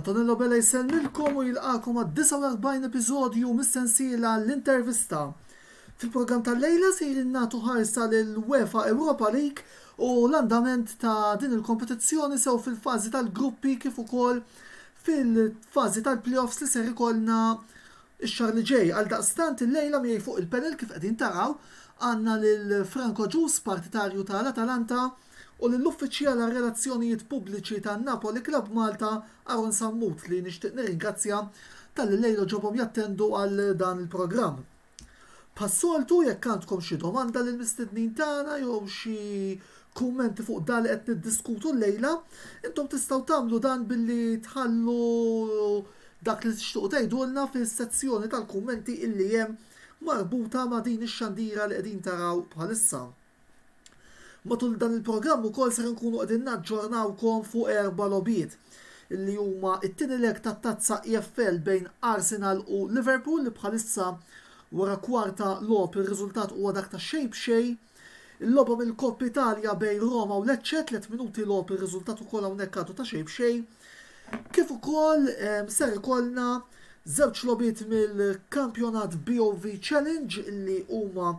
Antonello Bella jsellmilkom u jilqakom għad-49 episodju mis-sensiela l-intervista. Fil-programm tal-lejla se nagħtu ħarsa lil UEFA Europa League u l-andament ta' din il-kompetizzjoni sew fil-fażi tal-gruppi kif ukoll fil-fażi tal-playoffs li ser ikollna Ix-xahar li ġej, għaldaqstant, illejla miegħi fuq il-panel kif qegħdin taraw, għandna lil Frank Agius, partitarju ta' l-Atalanta, u lill-Uffiċjal għar-Relazzjonijiet Pubbliċi tan-Napoli Club Malta, Aaron Sammut, li nixtieq nirringrazzja talli llejla ġobhom jattendu għal dan il-programm. Bħas-soltu, jekk għandkom xi domanda lill-mistednin tagħna jew xi kummenti fuq dak li qed niddiskutu llejla, intom tistgħu tagħmlu dan billi tħallu dak li tixtiequ tgħidulna fis-sezzjoni tal-kummenti illi hemm marbuta ma' din ix-xandira li qegħdin taraw bħalissa. Matul dan il-programm ukoll ser inkunu qegħdin naġġornawkom fuq erba' logħbiet illi huma t-tieni leg tat-Tazza EFL bejn Arsenal u Liverpool li bħalissa wara kwarta logħob ir-riżultat huwa dak ta' xejn b'xejn. Il-logħba mill-Coppa Italia bejn Roma u Lecce, tliet minuti logħob ir-riżultat ukoll hawnhekk għadu ta' xejn b'xejn. Kif ukoll ehm, ser ikollna żewġ logħbiet mill-kampjonat BOV Challenge li huma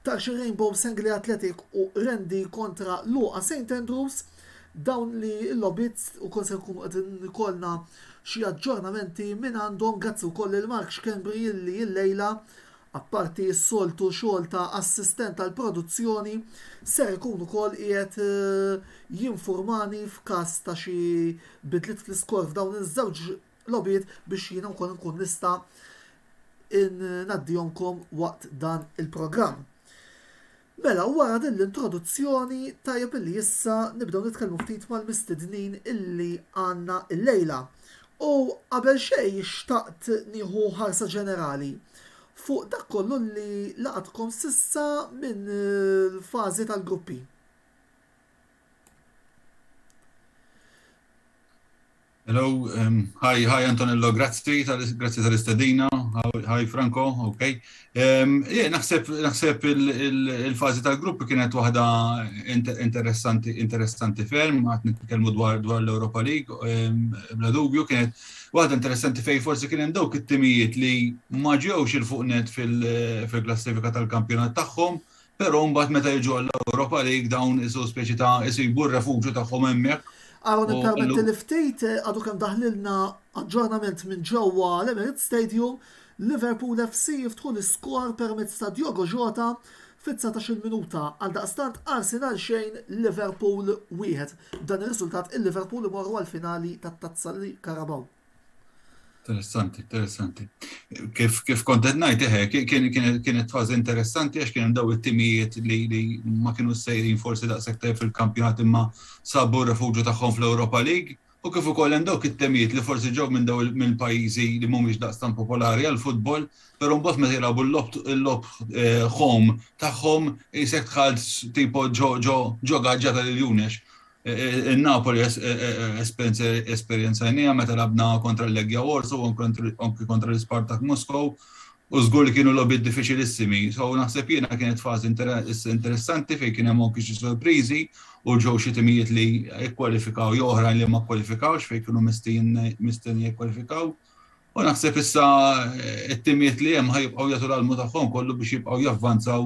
Tarxi Rainbow Sengli Athletic u Rendi kontra Luqa St. Andrews dawn li l-lobit u kol se nkunu qed nkollna xi aġġornamenti minn għandhom grazzi wkoll il Mark Xkembri illi illejla apparti s-soltu xogħol ta' assistent tal-produzzjoni, ser ikun ukoll qiegħed jinfurmani f'każ ta' xi bidliet fl-iskor f'dawn iż-żewġ logħbiet biex jiena wkoll inkun nista' ngħaddihomkom waqt dan il-programm. Mela wara din l-introduzzjoni tajjeb illi issa nibdew nitkellmu ftit mal-mistednin illi għandna llejla. U qabel xejn xtaqt nieħu ħarsa ġenerali fuq dak kollu li laqatkom s'issa minn l-fażi tal-gruppi. Hello, hi, hi Antonello, grazzi, grazzi tal-istedina, hi Franco, ok. Jien naħseb, naħseb il-fazi tal-grupp kienet waħda interessanti, interessanti ferm, għat nitkellmu dwar dwar l-Europa League, bla dubju kienet waħda interessanti fej forsi kien hemm dawk it-timijiet li ma ġewx il-fuq net fil-klassifika tal-kampjonat tagħhom, Però mbagħad meta jiġu għall-Ewropa League dawn isu speċi ta' isibu r-refuġju tagħhom hemmhekk. Aaron ippermettili ftit, għadu kemm daħlilna aġġornament minn ġewwa l-Emirates Stadium, Liverpool FC jiftħu l-iskor permezz ta' Diogo Jota fit-dsatax-il minuta. Għaldaqstant Arsenal xejn, Liverpool wieħed. B'dan ir-riżultat il-Liverpool imorru għall-finali tat-Tazza Carabao. Interessanti, interessanti. Kif, kif kontet najt, eħe, kienet fazi interessanti għax kien daw it-timijiet li, li ma kienu sejrin forsi da' sektar fil-kampjonat imma sabu refugju tagħhom fl-Europa League. U kif ukoll hemm dawk it-temijiet li forsi ġew minn daw minn pajjiżi li mhumiex daqstan popolari għal futbol, però mbagħad meta jilagħbu l-lob eh, home tagħhom isek tħalt tipo ġo ġo ġo gaġġa tal-Iljunex. In-Napoli esperjenzajnieha meta lagħbna kontra l-Legia Warsaw u anki kontra l-Ispartak Moscow u żgur li kienu logħbiet diffiċilissimi. So naħseb jien kienet fażi interessanti fejn kien hemm anki xi sorpriżi u ġew xi timijiet li kkwalifikaw jew oħrajn li ma kkwalifikawx fejn kienu mistennija jikkwalifikaw. U naħseb issa t-timijiet li hemm ħa jibqgħu jagħtu l-almu tagħhom kollu biex jibqgħu javvanzaw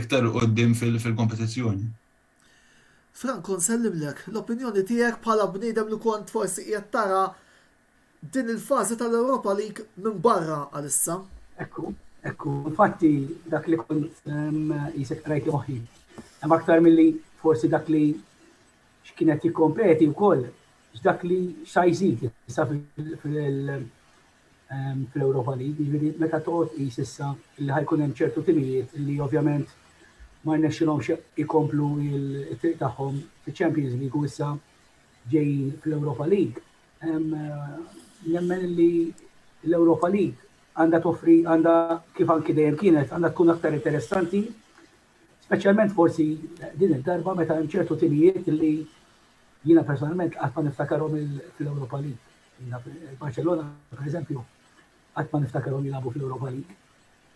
iktar 'il quddiem fil-kompetizzjoni. Franco nsellimlek l-opinjoni tiegħek bħala bniedem li kont forsi qiegħed tara din il-fażi tal-Europa League minn barra għalissa. Ekku, ekku, infatti dak li kont qisek qrajt li moħħi. Hemm aktar milli forsi dak li x'kien qed jikkompeti wkoll x'dak li x'sa jżid issa fl-Europa League, jiġifieri meta toqgħod tqis issa li ħajkun hemm ċertu timijiet li ovvjament ma rnexxilhomx ikomplu t-triq tagħhom fiċ-Champions League u issa ġejjin fl-Europa League. Nemmen li l-Europa League għandha toffri għandha kif anki dejjem kienet għandha tkun aktar interessanti, speċjalment forsi din id-darba meta hemm ċertu timijiet li jiena personalment qatt ma niftakarhom fl-Europa League. Barcelona, per eżempju, għat ma niftakarhom jilabu fil-Europa League.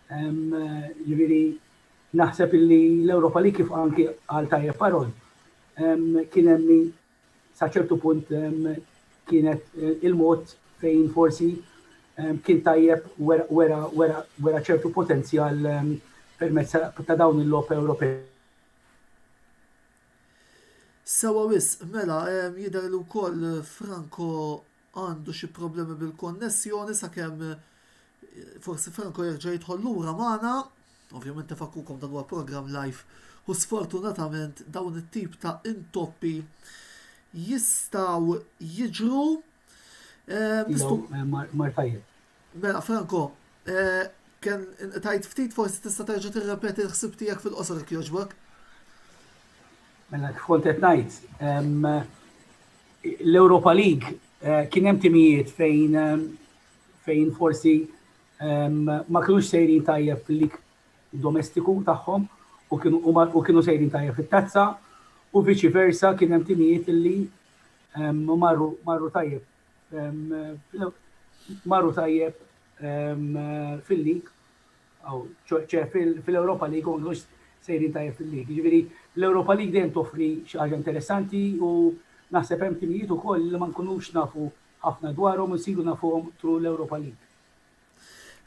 Ġifieri naħseb li l-Europa League kif anki għal tajjeb parol kien hemm li sa ċertu punt kienet eh, il-mod fejn forsi kien tajjeb wera ċertu potenzjal permezz ta' dawn il-lop Ewropej Sewwa wisq, mela jidher li wkoll Franco għandu xi problemi bil-konnessjoni sakemm forsi Franco jerġa' jidħol lura magħna. Ovvjament nifakkukom dan huwa programm live u sfortunatament dawn it-tip ta' intoppi jistgħu jiġru. Mar tajjeb. Mela Franco, kemm inqtajt ftit forsi tista' terġa' tirrepeti l-ħsieb tiegħek fil-qosor jekk jogħġbok. Mela kif kont qed ngħid, l-Europa League kien hemm timijiet fejn fejn forsi ma kienux sejrin tajjeb fil-lig domestiku tagħhom u kienu sejrin tajjeb fit-tazza u viċi versa kien hemm timijiet li marru tajjeb Marru tajjeb fil-lig, ċe fil-Europa League, u mux sejrin tajjeb fil-lig. Ġviri, l-Europa League dejjem toffri xaħġa interessanti u naħseb hemm timijiet u koll li ma nkunux nafu ħafna dwarhom u nsiru nafuhom tru l-Europa League.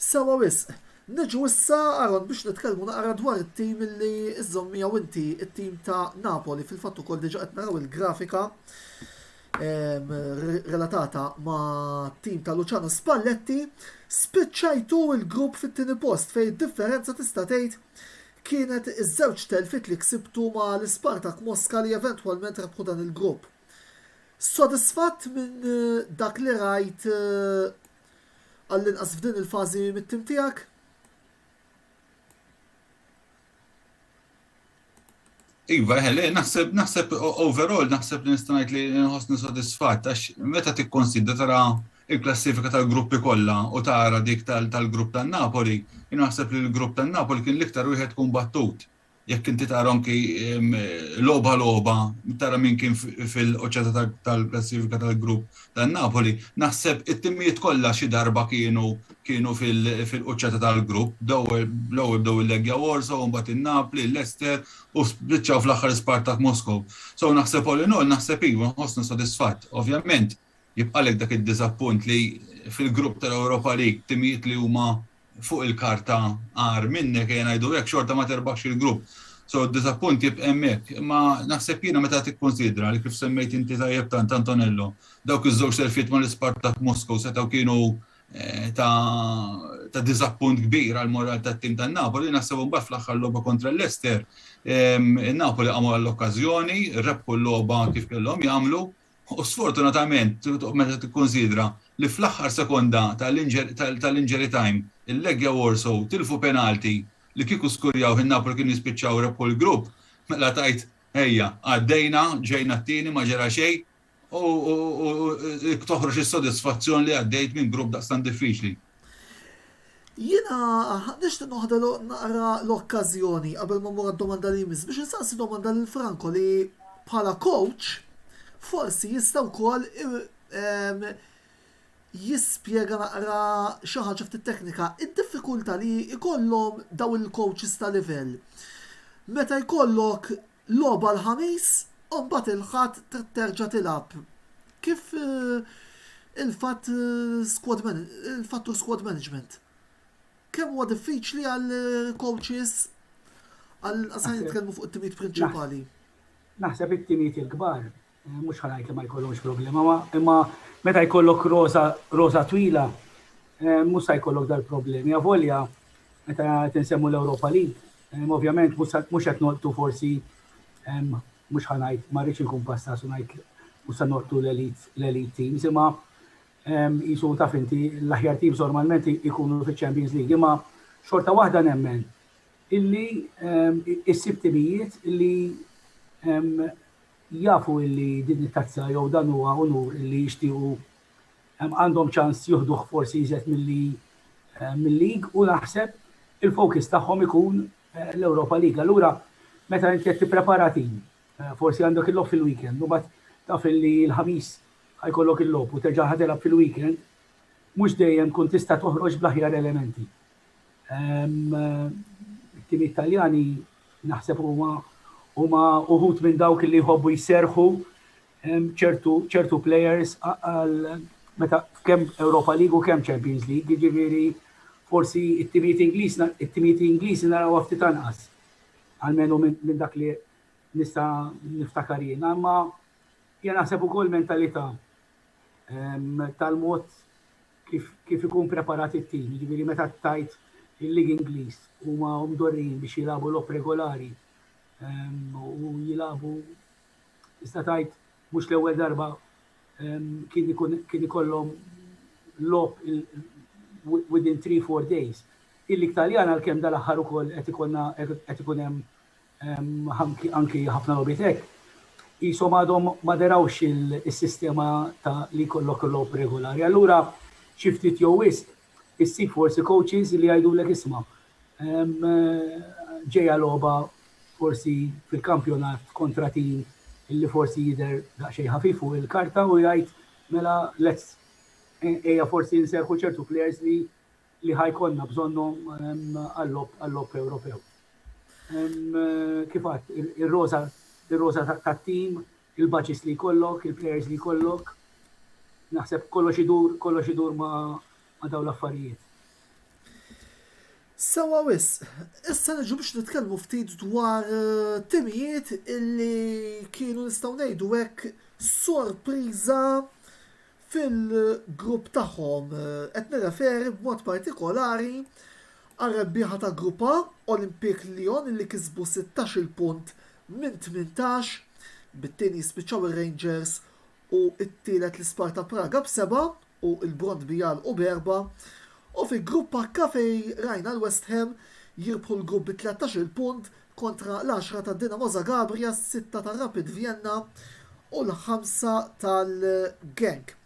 Sewwa wisq. Niġu issa, Aaron, biex nitkellmu naqra dwar it-tim li żżomm miegħu inti, it-tim ta' Napoli. Fil-fatt ukoll diġà qed naraw il-grafika relatata mat-tim ta' Luciano Spalletti. Spiċċajtu l-grupp fit-tieni post fejn id-differenza tista' tgħid kienet iż-żewġ telfiet li ksibtu ma' l-Ispartak Moska li eventwalment rebħu dan il-grupp. Sodisfatt minn dak li rajt għallinqas f'din il-fażi mit-tim tiegħek? Iva, eh, le, naħseb, naħseb, overall, naħseb li nistanajt li nħosni sodisfat, għax meta tikkonsidra tara il-klassifika tal-gruppi kollha u tara dik tal-grupp tan-Napoli, naħseb li l-grupp tan-Napoli kien l-iktar wieħed kumbattut jekk inti tara anki logħba logħba, tara min kien fil-qoċċata tal-klassifika tal-grupp ta' Napoli, naħseb it-timijiet kollha xi darba kienu kienu fil-qoċċata tal-grupp, l-ewwel bdew il-Legia Warsaw, imbagħad in-Napli, l-Leicester u spiċċaw fl-aħħar Spartak Moskow. So naħseb all in all naħseb iva nħossni sodisfatt. Ovvjament Jibqalek dak id-diżappunt li fil-grupp tal-Europa League timijiet li huma fuq il-karta agħar minnek, ejja ngħidu hekk, xorta ma terbaħx il-grupp. So d-diżappunt jibqa' hemmhekk. Imma naħseb jiena meta tikkunsidra li kif semmejt inti tajjeb tant Antonello, dawk iż-żewġ telfiet mal-Ispartak Moscow setgħu kienu ta' ta' diżappunt kbir għall-moral tat-tim tan-Napoli, naħseb imbagħad fl-aħħar logħba kontra l-Leicester, in-Napoli qamu għall-okkażjoni, rebħu l-logħba kif kellhom jagħmlu, U sfortunatament, meta tikkunsidra li fl-aħħar sekonda tal-injury time il-Legia Warsaw tilfu penalti li kieku skurjawh in-Napoli kienu jispiċċaw rebħu l-grupp, mela tgħid ejja, għaddejna, ġejna t-tieni, ma ġara xejn u toħroġ is-sodisfazzjon li għaddejt minn grupp daqstant diffiċli. Jiena nixtieq noħda naqra l-okkażjoni qabel ma mmur għad-domanda li jmiss biex insaqsi domanda lil Franco li bħala coach forsi jista' wkoll jispjega naqra xi ħaġa ftit teknika. Id-diffikultà li jkollhom dawn il-coaches ta' livell meta jkollok Logħba l-Ħamis u mbagħad il-Ħadd trid terġa' tilgħab kif il-fatt squad il-fattur squad management. Kemm huwa diffiċli għal coaches għal se nitkellmu fuq it-timijiet prinċipali. Naħseb it-timijiet il-kbar Mhux ħa ngħid li ma jkollhomx problema, ma imma meta jkollok rosa rosa twila, eh, mhux sa jkollok dal-problemi. Avolja meta tinsemmu l-Ewropa li, eh, ovvjament mhux qed noqtu forsi eh, mhux ħa ngħid ma rridx inkun pasta su ngħid mhux sa noqtu l-elite teams, imma jisu taf inti l-aħjar teams normalment ikunu fiċ-Champions League, imma xorta waħda nemmen illi issib timijiet illi jafu illi din it-tazza jew dan huwa unur illi jixtiequ għandhom ċans jieħduh forsi iżjed milli mil-league u naħseb il-focus tagħhom ikun l-Europa League. Allura meta inti qed tipprepara tim, forsi għandek il-logħob fil-weekend u mbagħad taf illi l-Ħamis ħa jkollok il-logħob u terġa' ħa tilgħab fil-weekend, mhux dejjem tkun tista' toħroġ bl-aħjar elementi. It-timijiet Taljani Naħseb huma huma uħud minn dawk li jħobbu jserħu ċertu ċertu players għal meta kemm Europa League u kemm Champions League, jiġifieri forsi it-timijiet Ingliż it-timijiet Ingliżi naraw ftit anqas. Almenu minn dak li nista' niftakar jien, imma jien naħseb ukoll mentalità tal-mod kif kif ikun preparat it-tim, jiġifieri meta tgħid il-Lig Ingliż huma mdorrijin biex jilagħbu logħob regolari u jilagħbu tista' tgħid mhux l-ewwel darba kien ikun kien ikollhom logħob within 3-4 days. Il-Lig Taljana għalkemm dal-aħħar ukoll qed ikollna qed ikun hemm anki ħafna logħbiet hekk, qishom għadhom ma derawx is-sistema ta' li jkollok il-logħob regolari. Allura xi ftit jew wisq issib forsi coaches li jgħidulek isma' ġejja logħba forsi fil-kampjonat kontra tim li forsi jidher daqsxejn ħafif fuq il-karta u jgħid mela let's ejja forsi nserrħu ċertu plejers li li ħa jkollna bżonnhom għall-logħob Ewropew. Kif għadt, ir-roża ir-roża tat-tim, il-baċis li jkollok, il-plejers li jkollok, naħseb kollox idur kollox idur ma' dawn l-affarijiet. Sewa wis, issa niġu biex nitkellmu ftit dwar eh, timijiet illi kienu nistgħu ngħidu hekk sorpriża fil-grupp tagħhom. Qed nirreferi b'mod partikolari għar-rebbieħa ta' Grupp A, Olympique Lyon li kisbu sittax-il punt minn tmintax, bit-tieni jispiċċaw ir-Rangers u t-tielet l-Isparta Praga b'seba' u l-Brondby jagħlqu b'erbgħa, u fi Grupp H fejn rajna l-West Ham jirbħu l-grupp bi tlettax-il punt kontra l-għaxra ta' Dinamo Zagabria, s-sitta ta' Rapid Vienna u l-ħamsa tal-Genk.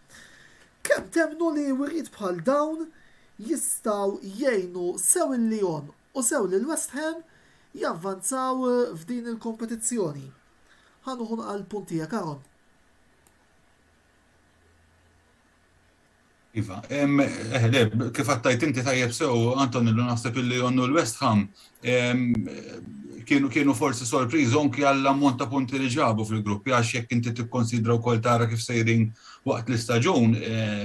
Kemm temmnu li wiriet bħal dawn jistgħu jgħinu sew il-Lyon u sew lil West Ham javvanzaw f'din il-kompetizzjoni? Ħa nuħu nqa' l-punt tiegħek Aaron. Iva, eħle, kif għattajt inti tajjeb sew, Antonillo, naħseb illi jonnu l-West Ham, kienu kienu forsi sorpriżi anki għall-ammont ta' punti li ġabu fil-gruppi, għax jekk inti tikkonsidra wkoll tara kif sejrin waqt l-istaġun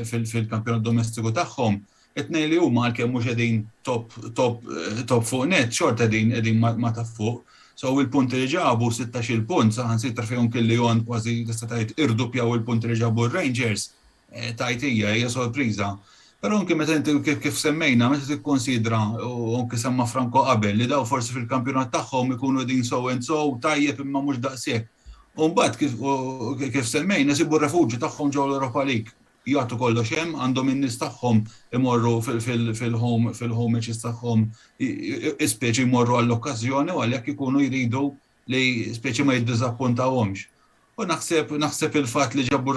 fil-kampjonat domestiku tagħhom, it-tnejn li huma għalkemm mhux qegħdin top top top fuq net, xorta qegħdin qegħdin ma' ta' fuq. So il-punti li ġabu, 16-il punt, saħansitra fihom kelli jon kważi tista' tgħid irduppjaw il-punti li ġabu r-Rangers, tgħid hija, hija sorpriża. Però anke meta inti kif semmejna, meta tikkonsidra u anke semma Franco qabel li daw forsi fil-kampjonat tagħhom ikunu din so and so tajjeb imma mhux daqshekk. U mbagħad kif semmejna sibu refuġju tagħhom ġew l-Europa League. Jagħtu kollox hemm, għandhom in-nies tagħhom imorru fil-home fil-home matches tagħhom ispeċi jmorru għall-okkażjoni u għalhekk ikunu jridu li speċi ma jiddiżappuntawhomx. U naħseb naħseb il-fatt li ġabu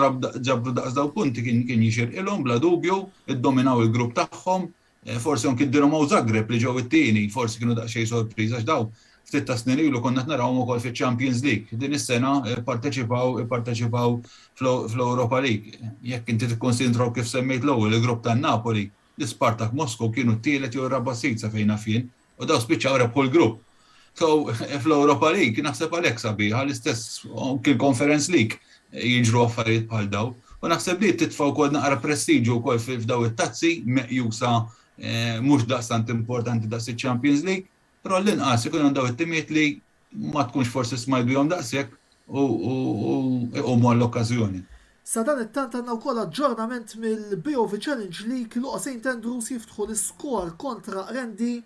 ġabru daqs daw punti kien kien jixirqilhom bla dubju, iddominaw il-grupp tagħhom, eh, forsi anki d-Dinamo Zagreb li ġew it-tieni, forsi kienu daqsxejn sorpriża għax daw ftit ta' snin ilu konna narawhom ukoll fiċ-Champions League. Din is-sena eh, parteċipaw parteċipaw fl-Europa League. Jekk inti tikkonsidraw kif semmejt l-ewwel il-grupp tan-Napoli, l-Ispartak Moskow kienu t-tielet jew raba' sit sa fejn fien, U daw spiċċaw rebħu l-grupp. So, fl-Europa League, naħseb għalek sabiħa, l-istess kien Conference League jiġru affarijiet bħal daw. U naħseb li titfaw kol naqra prestiġu kol f'daw it-tazzi, meqjusa eh, mux daqstant importanti daqs il-Champions League, pero l-inqas ikun għandaw it-timiet li ma tkunx forsi smajt bihom daqshekk u iqumu għall-okkażjoni. Sadanittant għandna wkoll aġġornament mill-BOV Challenge League, Luqa St Andrews jiftħu l-iskor kontra Qrendi,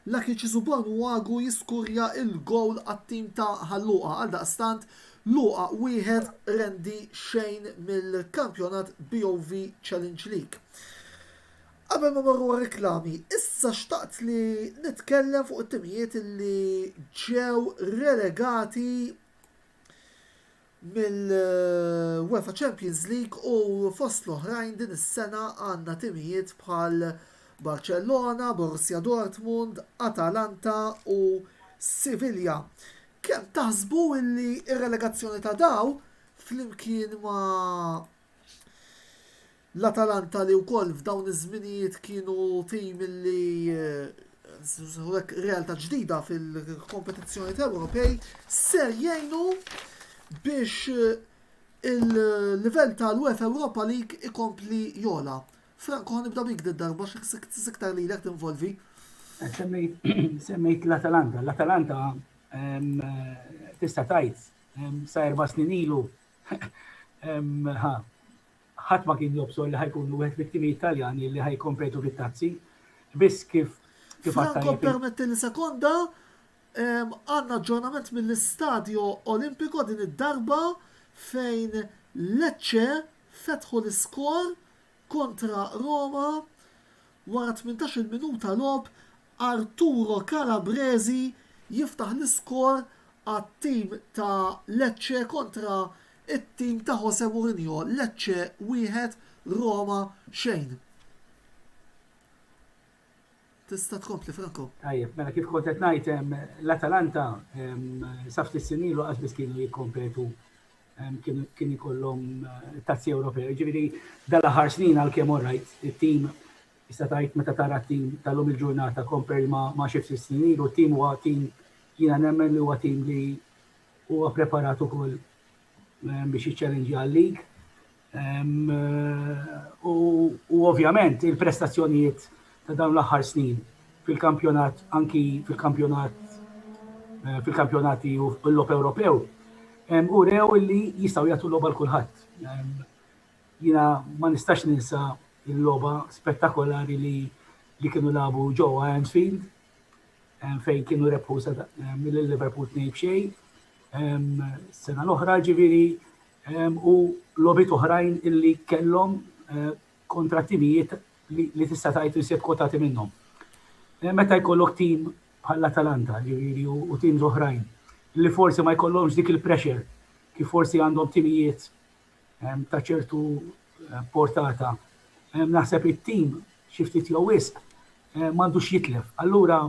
Lucky Cisubon Uagu jiskurja l-gowl għat-tim ta' Ħal Luqa. Għaldaqstant, Luqa wieħed, Qrendi xejn mill-kampjonat BOV Challenge League. Qabel ma mmorru għar-riklami, issa xtaqt li nitkellem fuq it-timijiet li ġew relegati mill-UEFA Champions League u fost l-oħrajn din is-sena għandna timijiet bħal Barcellona, Borussia Dortmund, Atalanta u Sivilja. Kemm taħsbu li r-relegazzjoni ta' dawn, flimkien ma' L-Atalanta li wkoll f'dawn iż-żminijiet kienu tim li realtà ġdida fil-kompetizzjonijiet Ewropej ser jgħinu biex il-livell tal-UEFA Europa League ikompli jogħla. Franco, nibda bik darba x'iktar lilek tinvolvi. Semmejt l-Atalanta. L-Atalanta tista' tgħid sa erba' snin ilu Ħadd ma kien jobsor li ħa jkunu wieħed mit-timijiet Taljani li ħa jikkompetu fit-Tazzi. Biss kif kif għad Franco tajjeb il- permettili sekonda, ehm, għandna aġġornament mill-Istadio Olimpico din id-darba fejn Lecce fetħu l-iskor kontra Roma wara tmintax-il minuta logħob Arturo Calabresi jiftaħ l-iskor għat-tim ta' Lecce kontra t-tim ta' Jose Mourinho, Lecce wieħed, Roma xejn. Tista' tkompli, Franco. Tajjeb, mela kif kont qed ngħid, l-Atalanta sa ftit snin ilu qas biss kienu jikkompetu kien ikollhom tazzi Ewropej. Ġifieri dal-aħħar snin għalkemm orajt it-tim Tista' tgħid meta tara t-tim tal-lum il-ġurnata compare ma' xi ftit snin ilu, t-tim huwa tim jiena nemmen li huwa tim li huwa preparat ukoll biex jiċċallenġja għal-lig. U ovvjament il-prestazzjonijiet ta' dawn l-aħħar snin fil-kampjonat, anki fil-kampjonat Eh, fil-kampjonati u l-lop Ewropew, u rew li jistaw jgħatu l-loba l-kulħadd. Jiena ma nistax ninsa l-logħba spettakolari li li kienu lagħbu ġewwa Anfield fejn kienu rebħu mill-Liverpool tnejn b'xejn sena l-oħra ġifieri u logħbiet oħrajn illi kellhom eh, kontra timijiet li tista' tgħid li se tkotati minnhom. Eh, meta jkollok tim bħalla Talanta ġifieri u tim oħrajn li forsi ma jkollhomx dik il-pressure kif forsi għandhom timijiet ta' ċertu portata. Naħseb it-tim xi ftit jew wisq m'għandux jitlef. Allura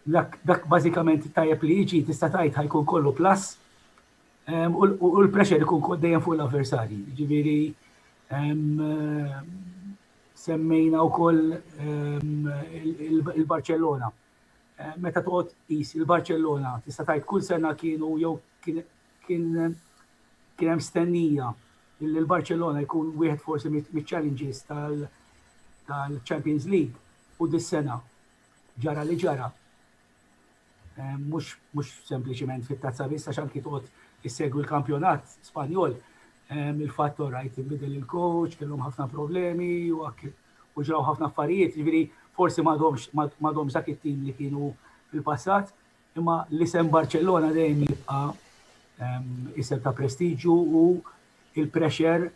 dak bażikament tajjeb li jiġi tista' tgħid ħajkun kollu plus u l-pressure ikun dejjem fuq l-avversarji. Ġifieri semmejna wkoll il-Barcellona. Meta toqgħod qis il-Barcellona tista' tgħid kull sena kienu jew kien Kien kien hemm stennija li l-Barċelona jkun wieħed forsi miċ-challenges tal-Champions League u dis-sena ġara li ġara. Mhux sempliċiment fit-tazza biss għax anki toqgħod issegwi l-kampjonat Spanjol il-fatt orajt inbidel il-coach, kellhom ħafna problemi u ġraw ħafna affarijiet, jiġifieri forsi m'għadhomx dak it-tim li kienu fil-passat, Imma l-isem Barċellona dejjem jibqa' isem ta' prestiġju u il-pressure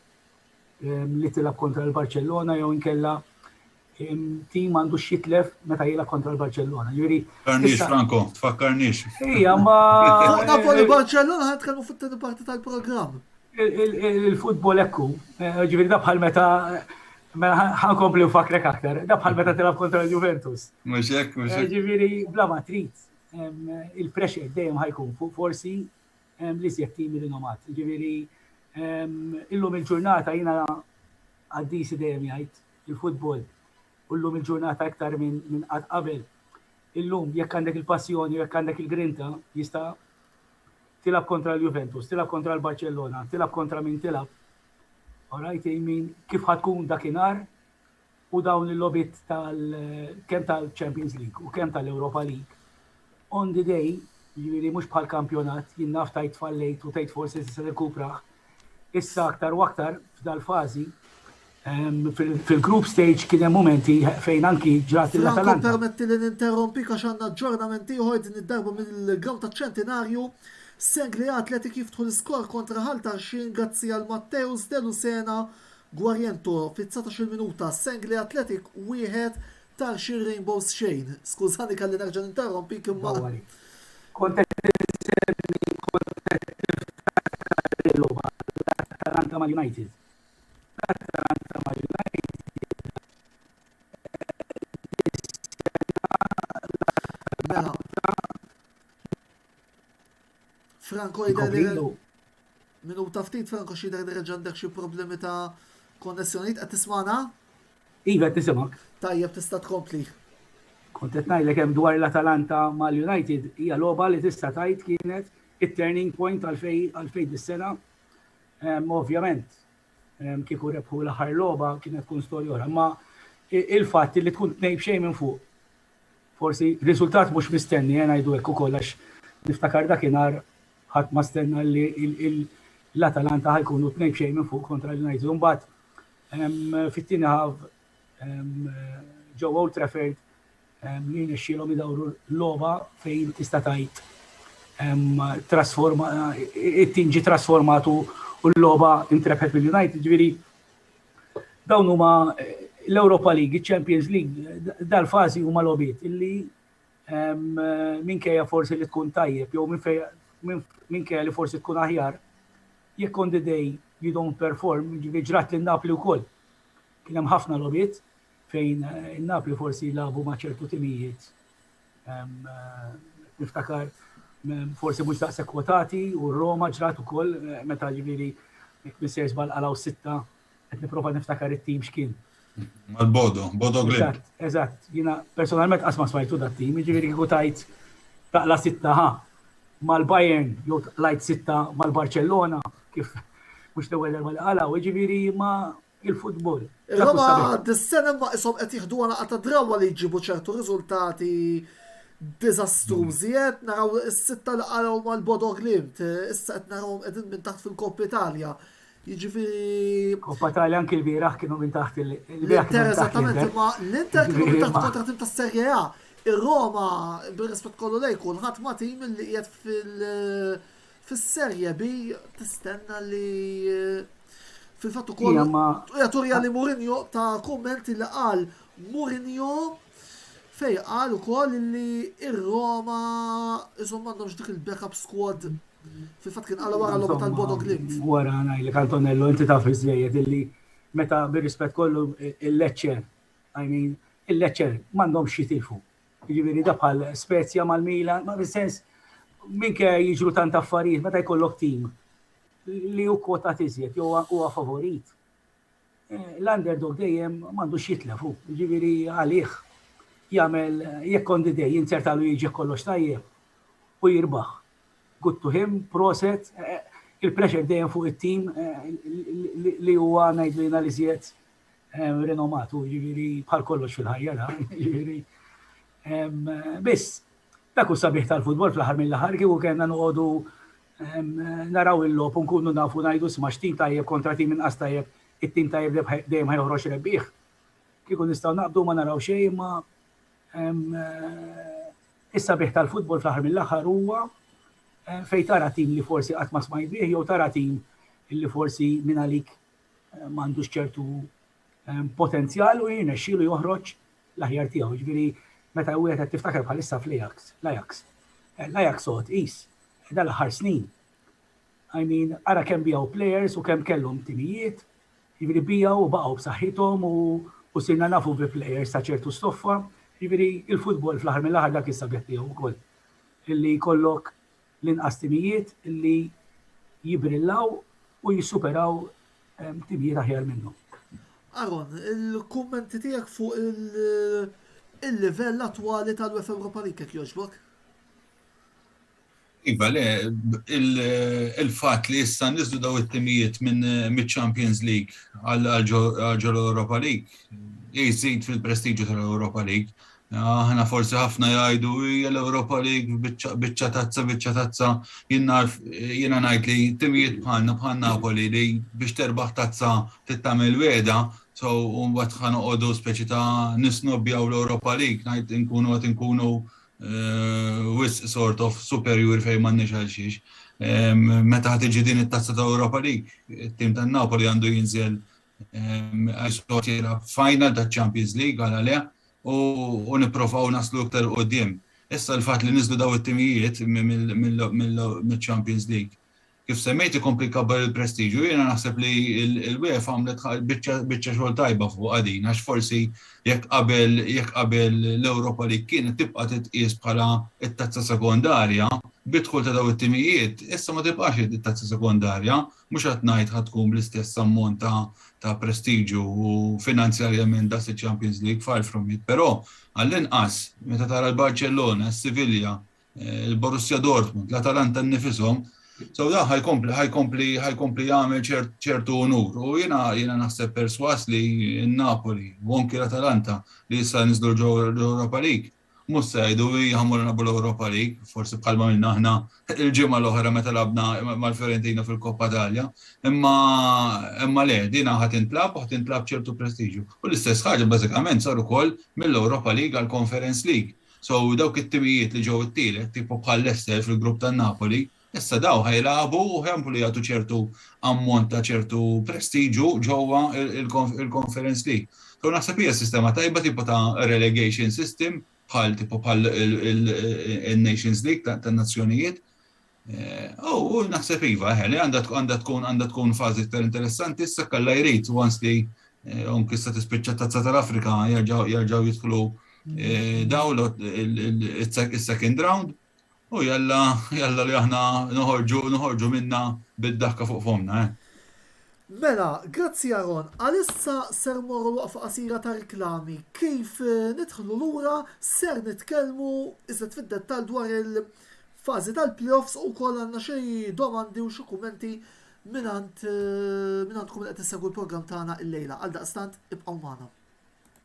li tilgħab kontra l-Barċellona jew inkella tim għandu xitlef meta jilgħab kontra l-Barċellona. Ġifieri. Tfakkarniex Franco, tfakkarniex. Ija, ma. Napoli Barċellona ħadd kellu fit-tieni parti tal-programm. Il-futbol ekku, ġifieri da bħal meta Mela ħankompli nfakrek aktar, da bħal meta tilab kontra l-Juventus. Mhux hekk, mhux hekk. Ġifieri bla ma trid il-pressure dejjem ħajkun fuq forsi li sjed tim rinomat. Ġifieri illum il-ġurnata jiena għaddisi dejjem jgħid il-futbol u llum il-ġurnata iktar minn qatt qabel. Illum jekk għandek il-passjoni, jekk għandek il-grinta, jista' tilab kontra l-Juventus, tilab kontra l-Barcellona, tilab kontra min tilab Orajt jmin kif ħa tkun dakinhar u dawn il-logħbiet tal kemm tal-Champions League u kemm tal-Europa League. On the day, jiġifieri mhux bħal kampjonat, jien naf tajt fallejt u tajt forsi se nirkupraħ. Issa aktar u aktar f'dal-fażi fil-group stage kien hemm momenti fejn anki ġrat il-Atalanta. Permetti li ninterrompi għax għandna ġġornamenti ieħor din id-darba mill-graw taċ-ċentinarju Sengli Athletic jiftħu l-iskor kontra Ħal Tarxien grazzi għal Matteus De Lucena Guariento fit-dsatax-il minuta, Sengli Athletic wieħed, Tarxien Rainbows xejn. Skużani kelli nerġa' ninterrompik imma. Dawwali. Kont qed insemmi, kont qed niftakar il-logħba, l-Atalanta mal-United. L-Atalanta mal-United dis-sena l-Atalanta. Mela. Franco jidher li minuta ftit Franco xidher li reġa' għandek xi problemi ta' konnessjonijiet qed tismana? Iva tisimgħek. Tajjeb tista' tkompli. Kont qed ngħidlek hemm dwar l-Atalanta mal-United hija logħba li tista' tgħid kienet it-turning point għalfejn dis-sena. Ehm, ovvjament, ehm, kieku rebħu l-aħħar logħba kienet tkun storja oħra, ma il-fatt li tkun tnejn xejn minn fuq Forsi riżultat mhux mistenni, eh, ngħidu hekk ukoll għax niftakar dakinhar ħadd ma stenna li l-Atalanta ħajkunu tnejn b'xejn minn fuq kontra l-United. Imbagħad ehm, fit-tieni ħaf ehm, ġewwa Old Trafford li nixxilhom idawru l-logħba fejn tista' tgħid trasforma it-tim ġi trasformatu u l-logħba intrebħet mill-United, ġifieri Dawn huma l-Europa League, il-Champions League, dal-fazi huma lobiet illi minkejja forsi li tkun tajjeb, jew minkejja li forsi tkun aħjar, jekk on the day you don't perform, ġivi ġrat li Napli u koll. Kienem ħafna lobiet fejn Napli forsi labu maċertu timijiet Niftakar forsi mhux daqshekk kwotati u Roma ġrat ukoll meta ġifieri jekk missier żball qalaw sitta qed nipprova niftakar it-tim x'kien. Mal-Bodo, Bodo Glimt. Eżatt, jiena personalment qatt ma smajtu dat-tim, jiġifieri kieku tajt taqla sitta ħa mal-Bayern jew taqlajt sitta mal-Barcellona kif mhux l-ewwel darba li qalaw, jiġifieri ma il-futbol. Roma dis-sena ma isom qed jieħdu għalaqa ta' drawa li jġibu ċertu riżultati diżastrużi qed naraw is-sitta li qaraw mal-Bodo Glimt, issa qed narawhom qegħdin minn taħt fil-Kopp Italja. Jiġifieri. Kopp Italja anki l-bieraħ kienu minn taħt il-bieraħ. Eżattament, imma l-Inter kienu minn taħt kontra tim tas-Serje A. Ir-Roma, bir-rispett kollu lejn kulħadd ma tim li qiegħed fil- Fis-Serje B tistenna li fil-fatt ukoll hija turija li Mourinho ta' kummenti li qal Mourinho fej qal ukoll li ir-Roma isom m'għandhomx dik il-backup squad fil-fatt kien qal wara l-logħba tal-Bodo Glimt. Wara ngħidlek Antonello inti taf iżejjed illi meta bir-rispett kollu il-Lecce, I mean, il-Lecce m'għandhomx jitilfu. Jiġifieri da bħal Spezia mal-Milan, ma fis-sens minke jiġru tant affarijiet meta jkollok tim li hu kwotat iżjed jew huwa favorit. Eh, l-underdog dejjem m'għandux jitlefu, jiġifieri għalih jagħmel jekk on the day jinzertalu jiġi kollox tajjeb u jirbaħ. Good to him, proset, eh, il-pressure dejjem fuq it-tim eh, li huwa ngħidlina li żjed rinomatu, ġifieri bħal kollox fil-ħajja dan, ġifieri. Biss, dak hu sabiħ tal-futbol fl-aħħar mill-aħħar kieku kellna noqogħdu naraw il-logħob u nkunu nafu ngħidu sma' x'tim tajjeb kontra tim inqas tajjeb, it-tim tajjeb dejjem ħajħroġ rebbieħ. Kieku nistgħu naqbdu ma naraw xejn ma is-sabiħ tal-futbol fl-aħħar mill-aħħar huwa fejn tara tim li forsi qatt ma smajt bih jew tara tim li forsi minn għalik m'għandux ċertu ehm, potenzjal u jirnexxielu joħroġ l-aħjar tiegħu. Ġifieri meta wieħed qed tiftakar bħalissa fl-Ajax, l-Ajax. Eh, L-Ajax sod qis eh, dal-aħħar snin. I mean, ara kemm bijaw players u kemm kellhom timijiet, jiġifieri bijaw u baqgħu b'saħħithom u u sirna nafu bi players ta' ċertu stoffa, jiġifieri il-futbol fl-aħħar mill-aħħar dak is-sabiħ tiegħu wkoll. Illi jkollok l-inqas timijiet li jibrillaw u jissuperaw timijiet aħjar minnhom. Aaron, il-kummenti tiegħek fuq il-livell attwali tal-UEFA Europa League jekk jogħġbok? Iva, le, il-fatt li issa niżlu daw it-timijiet minn miċ-Champions League għal ġol Europa League jżid fil-prestiġju tal-Europa League. Aħna forsi ħafna jgħidu hija l-Ewropa li biċċa tazza biċċa tazza jiena ngħid li timijiet bħalna bħal Napoli li biex terbaħ tazza tittamel weda so mbagħad ħa noqogħdu speċi ta' nisnobbjaw l-Ewropa League ngħid inkunu qed inkunu eh, wis sort of superjuri fejn m'għandniex għal xiex. Meta ħad tiġi din it-tazza ta' Ewropa League, it-tim tan-Napoli għandu jinżel Għax dot jilgħab final ta' Champions League għal għalih u nipprovaw naslu iktar il quddiem. Issa l-fatt li niżlu daw it-timijiet mill-Champions League kif semmejt ikompli jkabbar il-prestiġju. Jiena naħseb li l-UEFA għamlet biċċa xogħol tajba fuqha din għax forsi jekk qabel jekk qabel l-Europa League kienet tibqa' titqies bħala t-tazza sekondarja, bid-dħul ta' daw it-timijiet issa ma tibqax hi t-tazza sekondarja Mhux qed ngħid ħa tkun bl-istess ammont ta' prestiġju u finanzjarjament daqs iċ-Champions League, far from it, però għall-inqas meta tara l-Barcellona, s-Sivilja, il-Borussia Dortmund, l-Atalanta nnifishom, sew dan ħa jkompli jagħmel ċertu unur u jiena naħseb persważ li n-Napoli u anki l-Atalanta li issa niżlu ġewwa l-Europa League, Mhux se jgħidu, hi ħammur nilagħbu l-Europa League, forsi bħalma għamilna aħna l-ġimgħa l-oħra meta lagħabna mal-Fiorentina fil-Coppa Italia. Imma imma le, dinha ħa tintlagħab u ħa tintlagħab b'ċertu prestiġju. U l-istess ħaġa bażikament sar ukoll mill-Europa League għall-Conference League. So dawk it-timijiet li ġew it-tielet, tipo bħal Leicester fil-grupp tan-Napoli, Issa dawn ħa jilagħbu u ħa jkomplu jagħtu ċertu ammont ta' ċertu prestiġju ġewwa l-Conference League. So naħseb hija sistema tajba tipo ta' relegation system bħal tipo bħal in-Nations League tan-Nazzjonijiet. U naħseb iva eħe li għandha tkun għandha tkun fażi iktar interessanti issa jekk Alla jrid once li anki issa tispiċċa t-Tazza tal-Afrika jerġgħu jidħlu dawn is-second round. U jalla, jalla li aħna noħorġu, noħorġu minnha bid-daħka fuq fommna, eh? Mela, grazzi Aaron, għalissa ser mmorru waqfa qasira ta' riklami. Kif nidħlu lura ser nitkellmu iżjed fid-dettall dwar il- fażi tal-playoffs u wkoll għandna xi domandi u xi kummenti minant eh, minantkom li qed issegwu l-programm tagħna illejla. Għal daqstant ibqgħu magħna.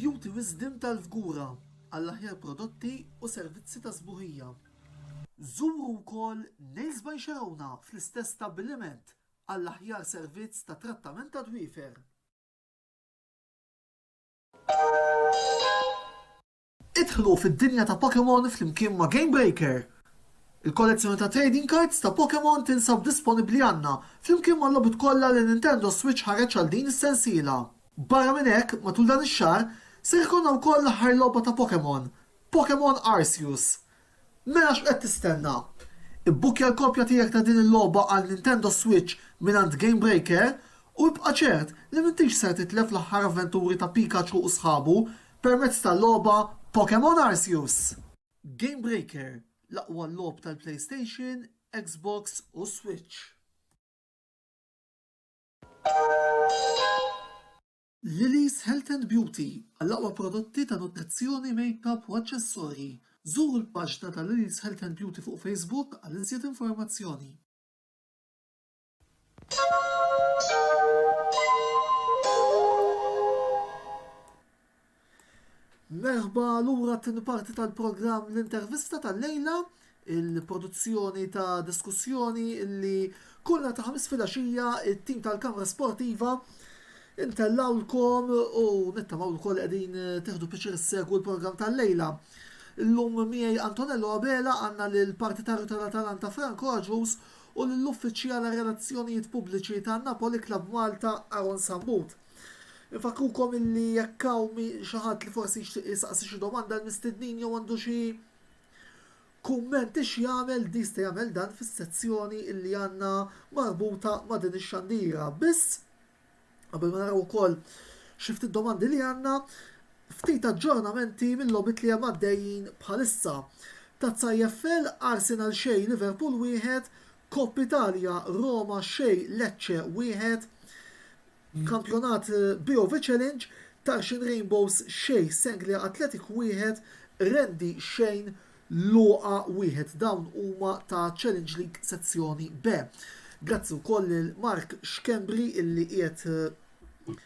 Beauty Wisdom tal-Fgura għall-aħjar prodotti u servizzi ta' sbuħija. Żuru wkoll Nails by Xerona fl-istess stabbiliment għall-aħjar servizz ta' trattament tad-dwiefer. Idħlu fid-dinja ta' Pokémon flimkien ma' Game Breaker! Il-kollezzjoni ta' trading cards ta' Pokémon tinsab disponibbli għandna flimkien mal-logħbiet kollha li Nintendo Switch ħareġ għal din is-sensiela. Barra minn hekk, matul dan ix-xahar, ser ikollna wkoll l-aħħar logħba ta' Pokémon, Pokémon Arceus, Mela x'qed tistenna? Ibbukkja l-kopja tiegħek ta' din il-logħba għal Nintendo Switch mingħand Gamebreaker u ibqa' ċert li m'intix ser titlef l-aħħar avventuri ta' Pikachu u sħabu permezz tal-logħba Pokémon Arceus! Gamebreaker, l-aqwa logħob tal-PlayStation, Xbox u Switch. Lily's Health and Beauty, Għall-aqwa prodotti ta' nutrizzjoni, makeup u aċċessorji, żuru l-paġna ta' Lily's Health and Beauty fuq Facebook għal iżjed informazzjoni. Merħba lura t-tieni parti tal-programm L-Intervista tal-lejla, il-produzzjoni ta' diskussjoni li kull nhar ta' ħamis filgħaxija it-tim tal-Kamra Sportiva intellawlkom u nittamaw ukoll qegħdin tieħdu pjaċir issegwu l-programm tal-lejla. Illum miegħi Antonello Abela għandna lil partitarju tal-Atalanta Frank Roġus u lill-uffiċjal għar-relazzjonijiet pubbliċi ta' Napoli Club Malta Aaron Sambut. Infakrukom illi jekk hawn xi ħadd li forsi jixtieq jistaqsi xi domanda l-mistednin jew għandu xi kumment ix jagħmel jista' jagħmel dan fis-sezzjoni illi għandna marbuta ma' din ix-xandira. Biss qabel ma naraw ukoll xi ftit domandi li għandna, ftit aġġornamenti mill-logħbiet li hemm għaddejjin bħalissa. Tazza EFL Arsenal xejn Liverpool wieħed, Coppa Italia, Roma xejn Lecce wieħed, Kampjonat BOV Challenge, Tarxien Rainbows xejn Sanglia Athletic wieħed, Rendi xejn Loqa wieħed. Dawn huma ta' Challenge League Sezzjoni B. Grazzi wkoll lil Mark Schembri illi qiegħed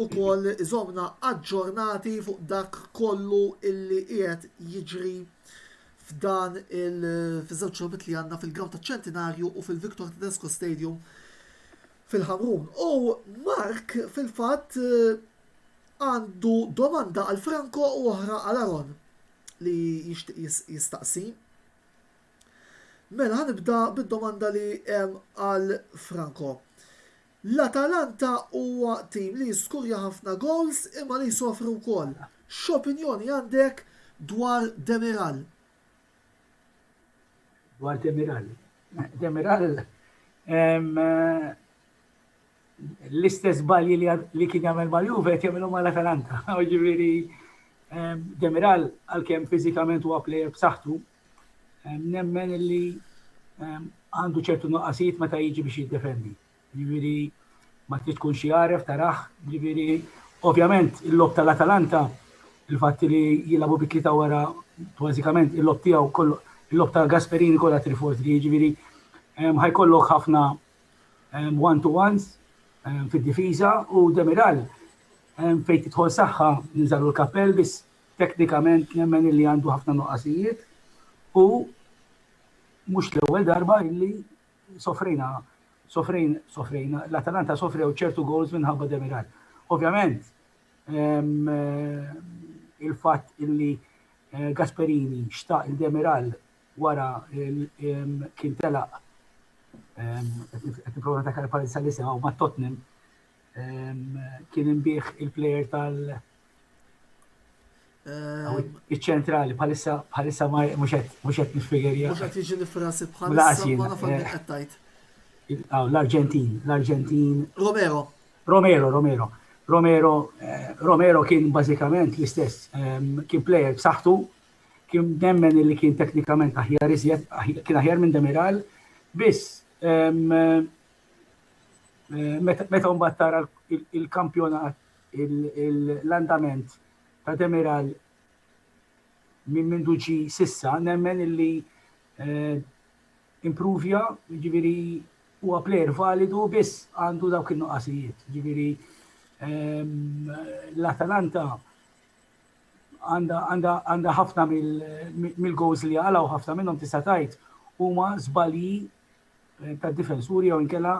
ukoll iżommna aġġornati fuq dak kollu illi qiegħed jiġri f'dan il fiż-żewġ logħbiet li għandna fil-grawnd taċ-Ċentinarju u fil-Victor Tedesco Stadium fil-Ħamrun. U Mark fil-fatt għandu domanda għal Franco u oħra għal Aron li jistaqsi. Mela ħanibda bid-domanda li hemm għal Franco. L-Atalanta huwa tim li jiskurja ħafna gowls imma li jsofri wkoll. X'opinjoni għandek dwar Demiral? Dwar Demiral? Demiral l-istess żbalji li kien jagħmel mal-Juve qed jagħmilhom mal-Atalanta. Jiġifieri Demiral għalkemm fiżikament huwa plejer b'saħħtu, Nemmen li għandu ċertu nuqqasijiet meta jiġi biex jiddefendi. Ġifieri ma trid tkun xi għaref taraħ, ġifieri ovvjament il-lob tal-Atalanta il-fatt li jilagħbu bi tlieta wara bażikament il-lob tiegħu kollu il-lob ta' Gasperini kollha trifors li jiġifieri ħajkollok ħafna one to ones fid-difiża u Demiral fejn tidħol saħħa niżalu l-kappell biss Teknikament nemmen illi għandu ħafna nuqqasijiet u mhux l-ewwel darba illi sofrejna sofrejn sofrejna l-Atalanta sofrew ċertu goals minħabba Demiral. Ovvjament il-fatt illi eh, Gasperini xtaq il-Demiral wara kien telaq qed nipprova ta' pari sal-isem ma' Tottenham kien imbieħ il-plejer tal- Iċ-ċentrali bħalissa bħalissa ma mhux qed mhux qed niffigerja. Mhux qed jiġi nifrasi bħalissa ma nafx minn qed tgħid. L-Arġentin, l-Arġentin. Romero. Romero, Romero. Romero, eh, Romero kien bażikament l-istess, ehm, kien plejer b'saħħtu, kien nemmen li kien teknikament aħjar iżjed, kien aħjar minn Demiral, biss ehm, eh, meta mbagħad tara il-kampjonat l-andament ta' Demiral minn mindu ġi sissa, nemmen illi eh, improvja, ġiviri huwa player validu biss għandu dawk il-nuqqasijiet. Ġiviri ehm, l-Atalanta għanda ħafna mill-goals li għalaw ħafna minnhom tista' tajt huma żbalji eh, ta' difensuri jew inkella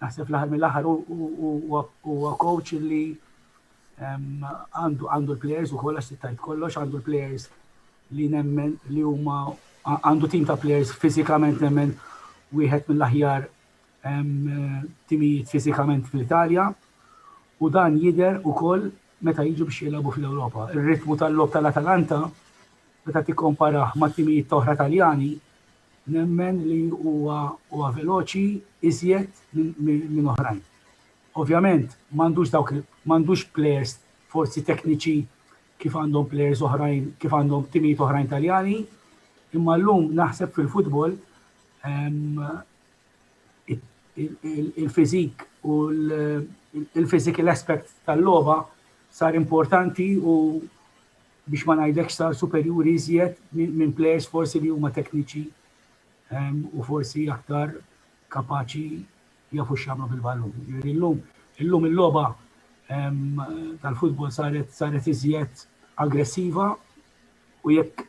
Naħseb fl-aħħar mill-aħħar huwa coach li għandu l-players ukoll għax tajt kollox, għandu l-players li nemmen li huma għandu tim ta' players fiżikament nemmen wieħed mill-aħjar timijiet fiżikament fl-Italja u dan jidher ukoll meta jiġu biex jilagħbu fl-Ewropa. Ir-ritmu tal-lob tal-Atalanta meta tikkomparaħ ma' timijiet oħra Taljani Nemmen li huwa huwa veloċi iżjed minn oħrajn. Ovvjament m'għandux dawk m'għandux plejers forsi tekniċi kif għandhom plejers oħrajn kif għandhom timijiet oħrajn Taljani, imma llum naħseb fil-futbol il-fiżik u l-physical aspect tal-logħba sar importanti u biex ma ngħidlekx ta' superjuri iżjed minn plejers forsi li huma tekniċi u forsi aktar kapaċi jafu x'jagħmlu bil-ballun. Jiġifieri llum illum il-logħba tal-futbol saret saret iżjed aggressiva u jekk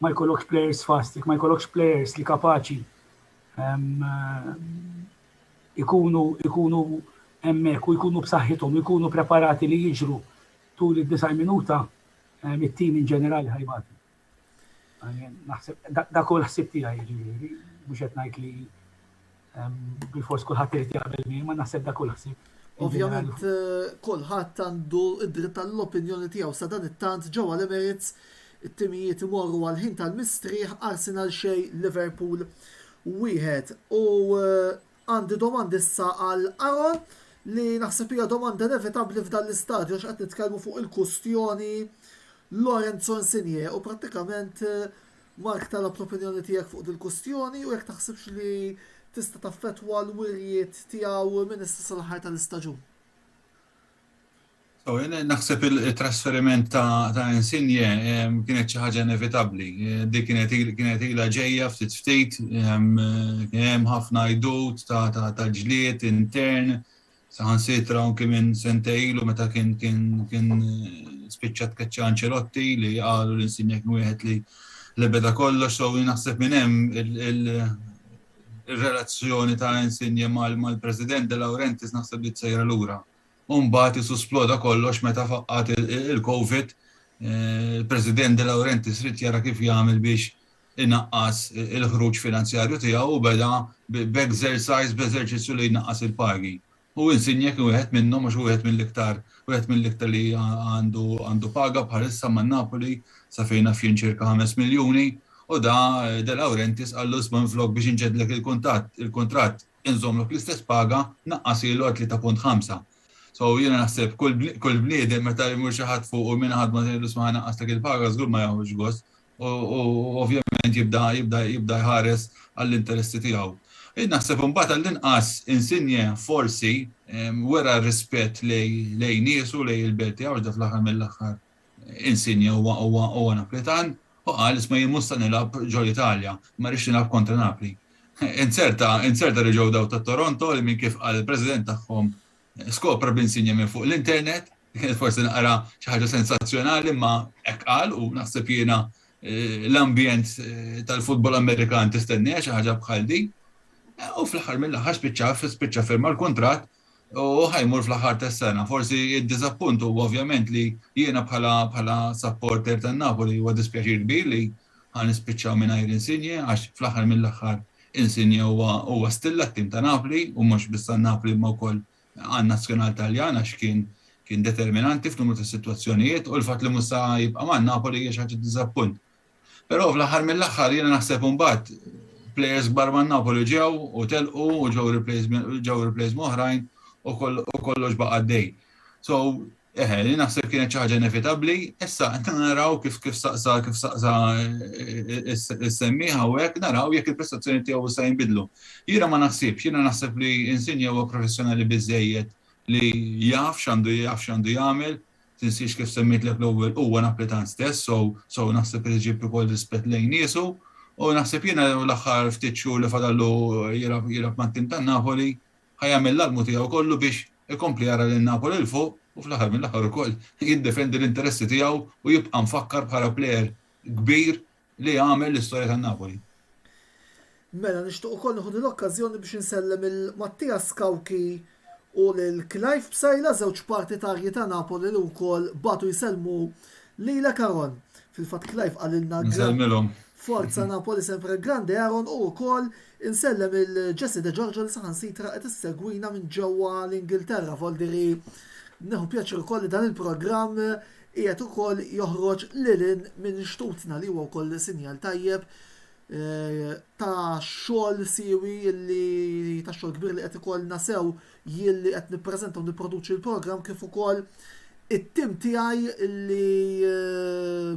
ma jkollokx players fast, jekk ma jkollokx players li kapaċi ikunu ikunu hemmhekk u jkunu b'saħħithom, ikunu preparati li jiġru tul id-90 minuta it-tim in ġenerali ħajbati. Naħseb dak hu l-ħsieb tiegħi jiġifieri, mhux qed ngħid li bil-fors kulħadd irid jaqbel miegħi, ma naħseb dak hu l-ħsieb. Ovvjament kulħadd għandu id-dritt tal-opinjoni tiegħu sa dan it-tant ġewwa l-Emirates it-timijiet imorru għal ħin tal-mistrieħ Arsenal xejn Liverpool wieħed. U Għandi domandi issa għal Aaron, li naħseb hija domanda inevitabbli f'dan l-istadju għax qed nitkellmu fuq il-kustjoni Lorenzo Insigne u prattikament Mark talab l-opinjoni tiegħek fuq dil-kustjoni u jekk taħsibx li tista' taffettwa l-wirjiet tiegħu minn issa sal-aħħar tal-istaġun. So, jien naħseb il-trasferiment ta', ta Insigne ehm, kienet xi ħaġa inevitabbli. Eh, di kienet kienet ilha ġejja ftit ftit, ehm, kien hemm ħafna jdut ta', ta, ta ġlied intern, saħan sitra anke minn sentejlu meta kien kien kien eh, spiċċat keċċa Ancelotti li qalu l-insinja kien wieħed li li beda kollox so naħseb minn hemm il-relazzjoni ta' insinja mal-President de Laurentiis naħseb li tsejra lura. u mbagħad qisu sploda kollox meta faqqgħet il-Covid, il-President De Laurentiis ried jara kif jagħmel biex inaqqas il-ħruġ finanzjarju tiegħu u beda b'exercise, b'eżerċizzju li jnaqqas il-pagi. U Insigne kien wieħed minnhom għax hu wieħed mill-iktar, wieħed mill-iktar li għandu paga bħalissa ma' Napoli, sa fejn naf jien ċirka ħames miljuni, u da De Laurentiis qallu isma' minflok biex inġeddlek il-kuntatt, il-kuntratt, inżommlu fl-istess paga naqqasilu għal tlieta punt ħamsa. So jiena naħseb kull bniedem meta jmur xi ħadd fuq u min ħadma tgħidlu isma' ħanaqqaslek il-paga żgur ma jieħux gost u ovvjament jibda jibda jibda jħares għall-interessi tiegħu. Jien naħseb imbagħad għall-inqas Insigne forsi wera rispett lejn niesu lejn il-belt tiegħu għax dan fl-aħħar mill-aħħar Insigne huwa huwa huwa Naplitan u qal isma' jien mhux se nilgħab ġol Italja, ma rridx nilgħab kontra Napli. Inzerta inzerta li ġew dawk ta' Toronto li minn kif qal il-President tagħhom skopra b'Insigne minn fuq l-internet, li kienet forsi naqra xi ħaġa sensazzjonali imma hekk qal u naħseb jiena l-ambjent tal-futbol Amerikan tistenniha xi ħaġa bħal din. U fl-aħħar mill-aħħar spiċċa spiċċa firma l-kuntratt u ħa jmur fl-aħħar tas-sena. Forsi d-diżappunt huwa ovvjament li jiena bħala supporter tan-Napoli huwa dispjaċir kbir li ħa nispiċċaw mingħajr Insigne għax fl-aħħar mill-aħħar Insigne huwa stilla t-tim ta' Napli u mhux biss tan-Napli imma wkoll għan-nazzjonal Taljan għax kien determinanti f'numru ta' sitwazzjonijiet u l-fatt li mhux se jibqa' man-Napoli hija xi ħaġa ta' diżappunt. Però fl-aħħar mill-aħħar jiena naħseb imbagħad plejers kbar man-Napoli ġew u telqu u ġew replaced minn oħrajn u kollox baqa' għaddej. So, eħe, jien naħseb kienet xi ħaġa inevitabbli, issa naraw kif saqsa kif saqsa is-semmiegħ hawnhekk naraw jekk il-prestazzjonijiet tiegħu issa jinbidlu. Jiena ma naħsibx, jiena naħseb li Insigne huwa professjonali biżżejjed li jaf x'għandu jaf x'għandu jagħmel tinsiex kif semmejtlek l-ewwel huwa Naplitan stess so so naħseb irid iġib ukoll rispett lejn niesu u naħseb jiena l-aħħar ftit xhur li fadallu jilgħab jilgħab mat-tim tan-Napoli ħa jagħmel l-almu tiegħu kollu biex ikompli jara lil Napoli 'l fuq u fl-aħħar mill-aħħar ukoll jiddefendi l-interessi tiegħu u jibqa' mfakkar bħala plejer kbir Li għamel l-istorja ta' Napoli. Mela nixtieq ukoll nieħu din l-okkażjoni biex insellem lil Mattias Cauchi u lil Clive Psaila, żewġ partitarji ta' Napoli li wkoll bagħtu jsellmu lilek Aaron. Fil-fatt Clive qalilna Nsellmilhom. Forza Napoli sempre grande Aaron u wkoll insellem lil Jessie De Giorgio li saħansitra qed issegwina minn ġewwa l-Ingilterra. Voldiri neħu pjaċir ukoll li dan il-programm qiegħed ukoll joħroġ lil hinn minn xtutna li huwa wkoll sinjal tajjeb ta' xogħol siewi li ta' xogħol kbir li qed ikollna sew jien li qed nippreżenta u nipproduċi l-programm kif ukoll it-tim tiegħi li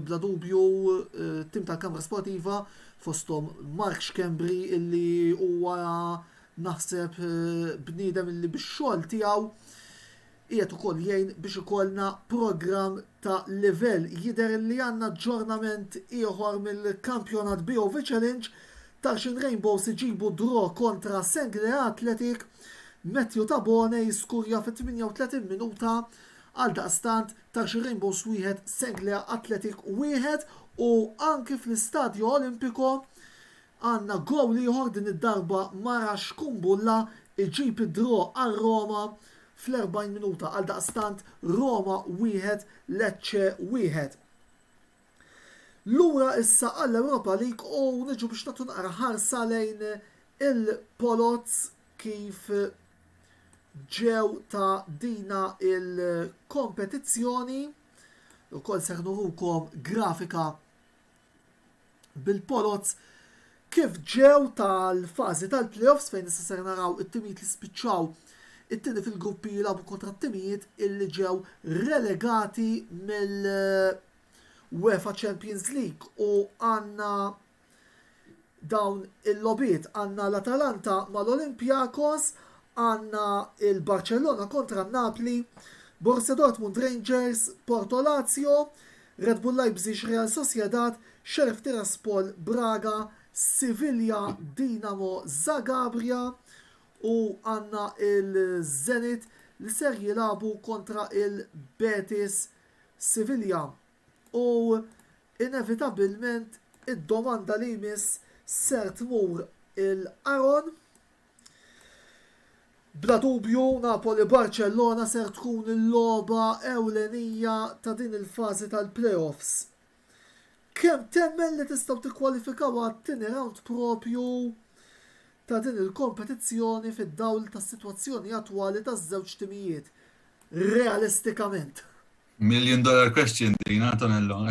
bla dubju t-tim tal-Kamra Sportiva fosthom Mark Schembri li huwa naħseb bniedem li bix-xogħol tiegħu Qiegħed ukoll jgħin biex ikollna programm ta' livell. Jidher li għandna aġġornament ieħor mill-kampjonat BOV Challenge, Tarxien Rainbows iġibu draw kontra Senglea Athletic, Matthew Tabone jiskurja fit-38 minuta, għaldaqstant Tarxien Rainbows wieħed, Senglea Athletic wieħed u anki fl-Istadio Olimpico Għandna gowl ieħor din id-darba Mara Shkumbulla iġib id-draw għal Roma fl-40 minuta. Għaldaqstant Roma wieħed, Lecce wieħed. Lura issa għall-Europa League u niġu biex nagħtu naqra ħarsa lejn il-poloz kif ġew ta' dina il-kompetizzjoni. Ukoll seħ nurukom grafika bil-Poloz kif ġew tal-fażi tal-playoffs fejn issa ser naraw it-timijiet li spiċċaw it-tieni fil-gruppi jilagħbu kontra t-timijiet illi ġew relegati mill UEFA Champions League u għandna dawn il-logħbiet għandna l-Atalanta mal-Olympiakos, għandna l-Barċellona kontra n-Napli, Borussia Dortmund Rangers, Porto Lazio, Red Bull Leipzig Real Sociedad, Sheriff Tiraspol Braga, Sivillja Dinamo Zagabria u għandna l-Zenit li ser jilagħbu kontra l-Betis Sivillja. U inevitabilment id-domanda li jmiss ser tmur 'il qaron. Bla dubju Napoli-Barċellona ser tkun il-logħba ewlenija ta' din il-fażi tal-playoffs. Kemm temmen li tistgħu tikkwalifikaw għat-tieni rawnd proprju ta' din il-kompetizzjoni fid-dawl tas-sitwazzjoni attwali taż-żewġ timijiet? Realistikament. Million dollar question din, Antonello.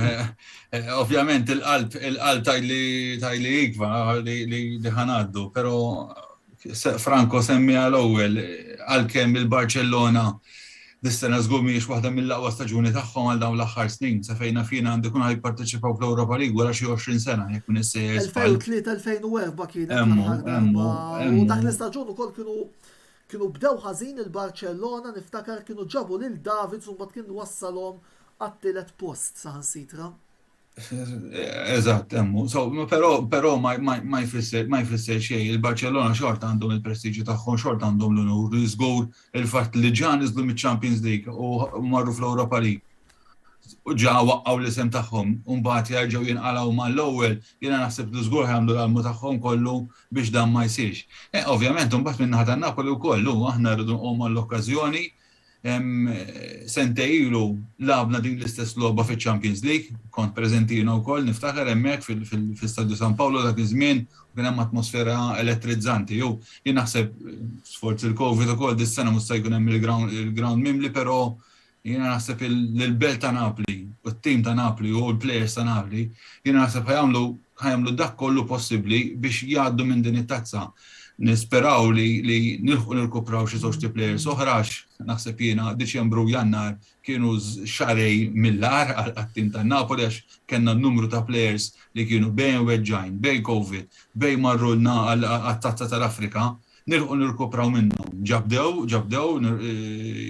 Ovvjament il-qalb, il-qalb tajli tajli ikva li ħanaddu, pero Franco semmi għal ewwel għalkemm il-Barcellona dis-sena żgur mhijiex waħda mill-aqwa staġuni tagħhom għal dawn l-aħħar snin, sa fejn naf jien għandu jkunu jipparteċipaw fl-Europa League wara xi 20 sena jekk m'iniex sejjer żball. 2003-2004 kienet l-aħħar darba. U dak l-istaġun ukoll kienu Kienu bdew ħażin il-Barcellona niftakar kienu ġabu lil Davids u mbagħad kien wassalhom għat-tielet post saħansitra. Eżatt, emmu. Però ma jfisser xejn, il-Barcellona xorta għandhom il-prestiġju tagħhom, xorta għandhom l-unur, żgur il-fatt li ġan iżlu miċ-Champions League u marru fl-Europa League. u ġa waqqgħu l-isem tagħhom u mbagħad jerġgħu jinqalgħu mal-ewwel, jiena naħseb li żgur ħa jagħmlu l-almu tagħhom kollu biex dan ma jsirx. Ovvjament imbagħad min-naħa tan-Napoli wkoll hu aħna rridu nqogħmu għall-okkażjoni sentejn ilu lagħabna din l-istess logħba fiċ-Champions League, kont preżenti jiena wkoll niftakar hemmhekk fil-Istadju San Paolo dak iż-żmien kien hemm atmosfera elettrizzanti u jien naħseb sforz il-Covid ukoll dis-sena mhux se jkun hemm il-ground mimli però Jiena naħseb li l-belt ta' Napli u t-tim ta' Napli u l-players ta' Napli, jiena naħseb ħa jagħmlu ħa jagħmlu dak kollu possibbli biex jgħaddu minn din it-tazza. Nisperaw li li nilħqu nirkupraw xi żewġt players oħra għax naħseb jiena Diċembru u Jannar kienu xahrejn mill-agħar għat-tim ta' Napoli għax kellna numru ta' players li kienu bejn weġġgħin, bejn Covid, bejn marrulna għat-Tazza tal-Afrika, Nilħqu nirkupraw minnhom. Ġa bdew, ġa bdew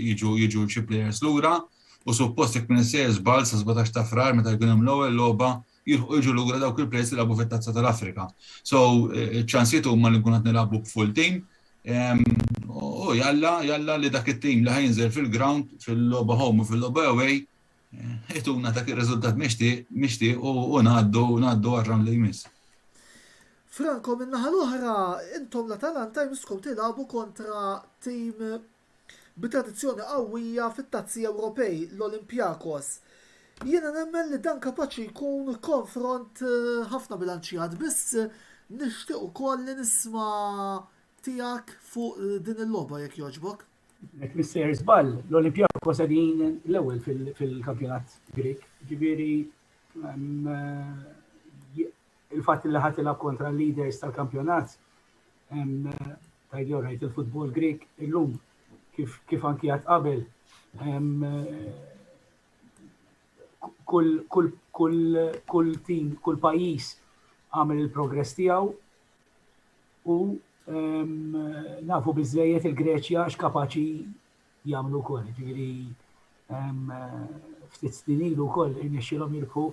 jiġu jiġu xi players lura u suppost jekk m'iniex sejjer żball sa sbatax ta' Frar meta jkun hemm l-ewwel logħba jilħqu jiġu lura dawk il-players li lagħbu fit-Tazza tal-Afrika. So ċ-ċansijiet huma li nkunu qed nilagħbu b'full team u jalla jalla li dak it-team li ħa jinżel fil-ground fil-logħba home u fil-logħba away Ituna dak ir-riżultat mixtieq u ngħaddu ngħaddu għar-round li jmiss. Franco min-naħa l-oħra, intom l-Atalanta jmisskom tilagħbu kontra tim bi tradizzjoni qawwija fit-Tazzi Ewropej, l-Olympiakos. Jiena nemmen li dan kapaċi jkun konfront eh, ħafna bilanċjat, biss nixtieq ukoll li nisma' tiegħek fuq eh, din il-logħba jekk jogħġbok. Nek mister zbal, l-Olimpjakos għadin l-ewel fil-kampjonat Grik, ġiviri il-fat li ħatilab kontra l-leaders tal-kampjonat, tajdjo rajt il-futbol Grik, il-lum kif anki għat qabel, kull tim, kull pajis għamil il-progress tijaw, U nafu biżejjed il-Greċja għax kapaċi jagħmlu wkoll, ġifieri ftit snin ilu wkoll irnexxilhom jirbħu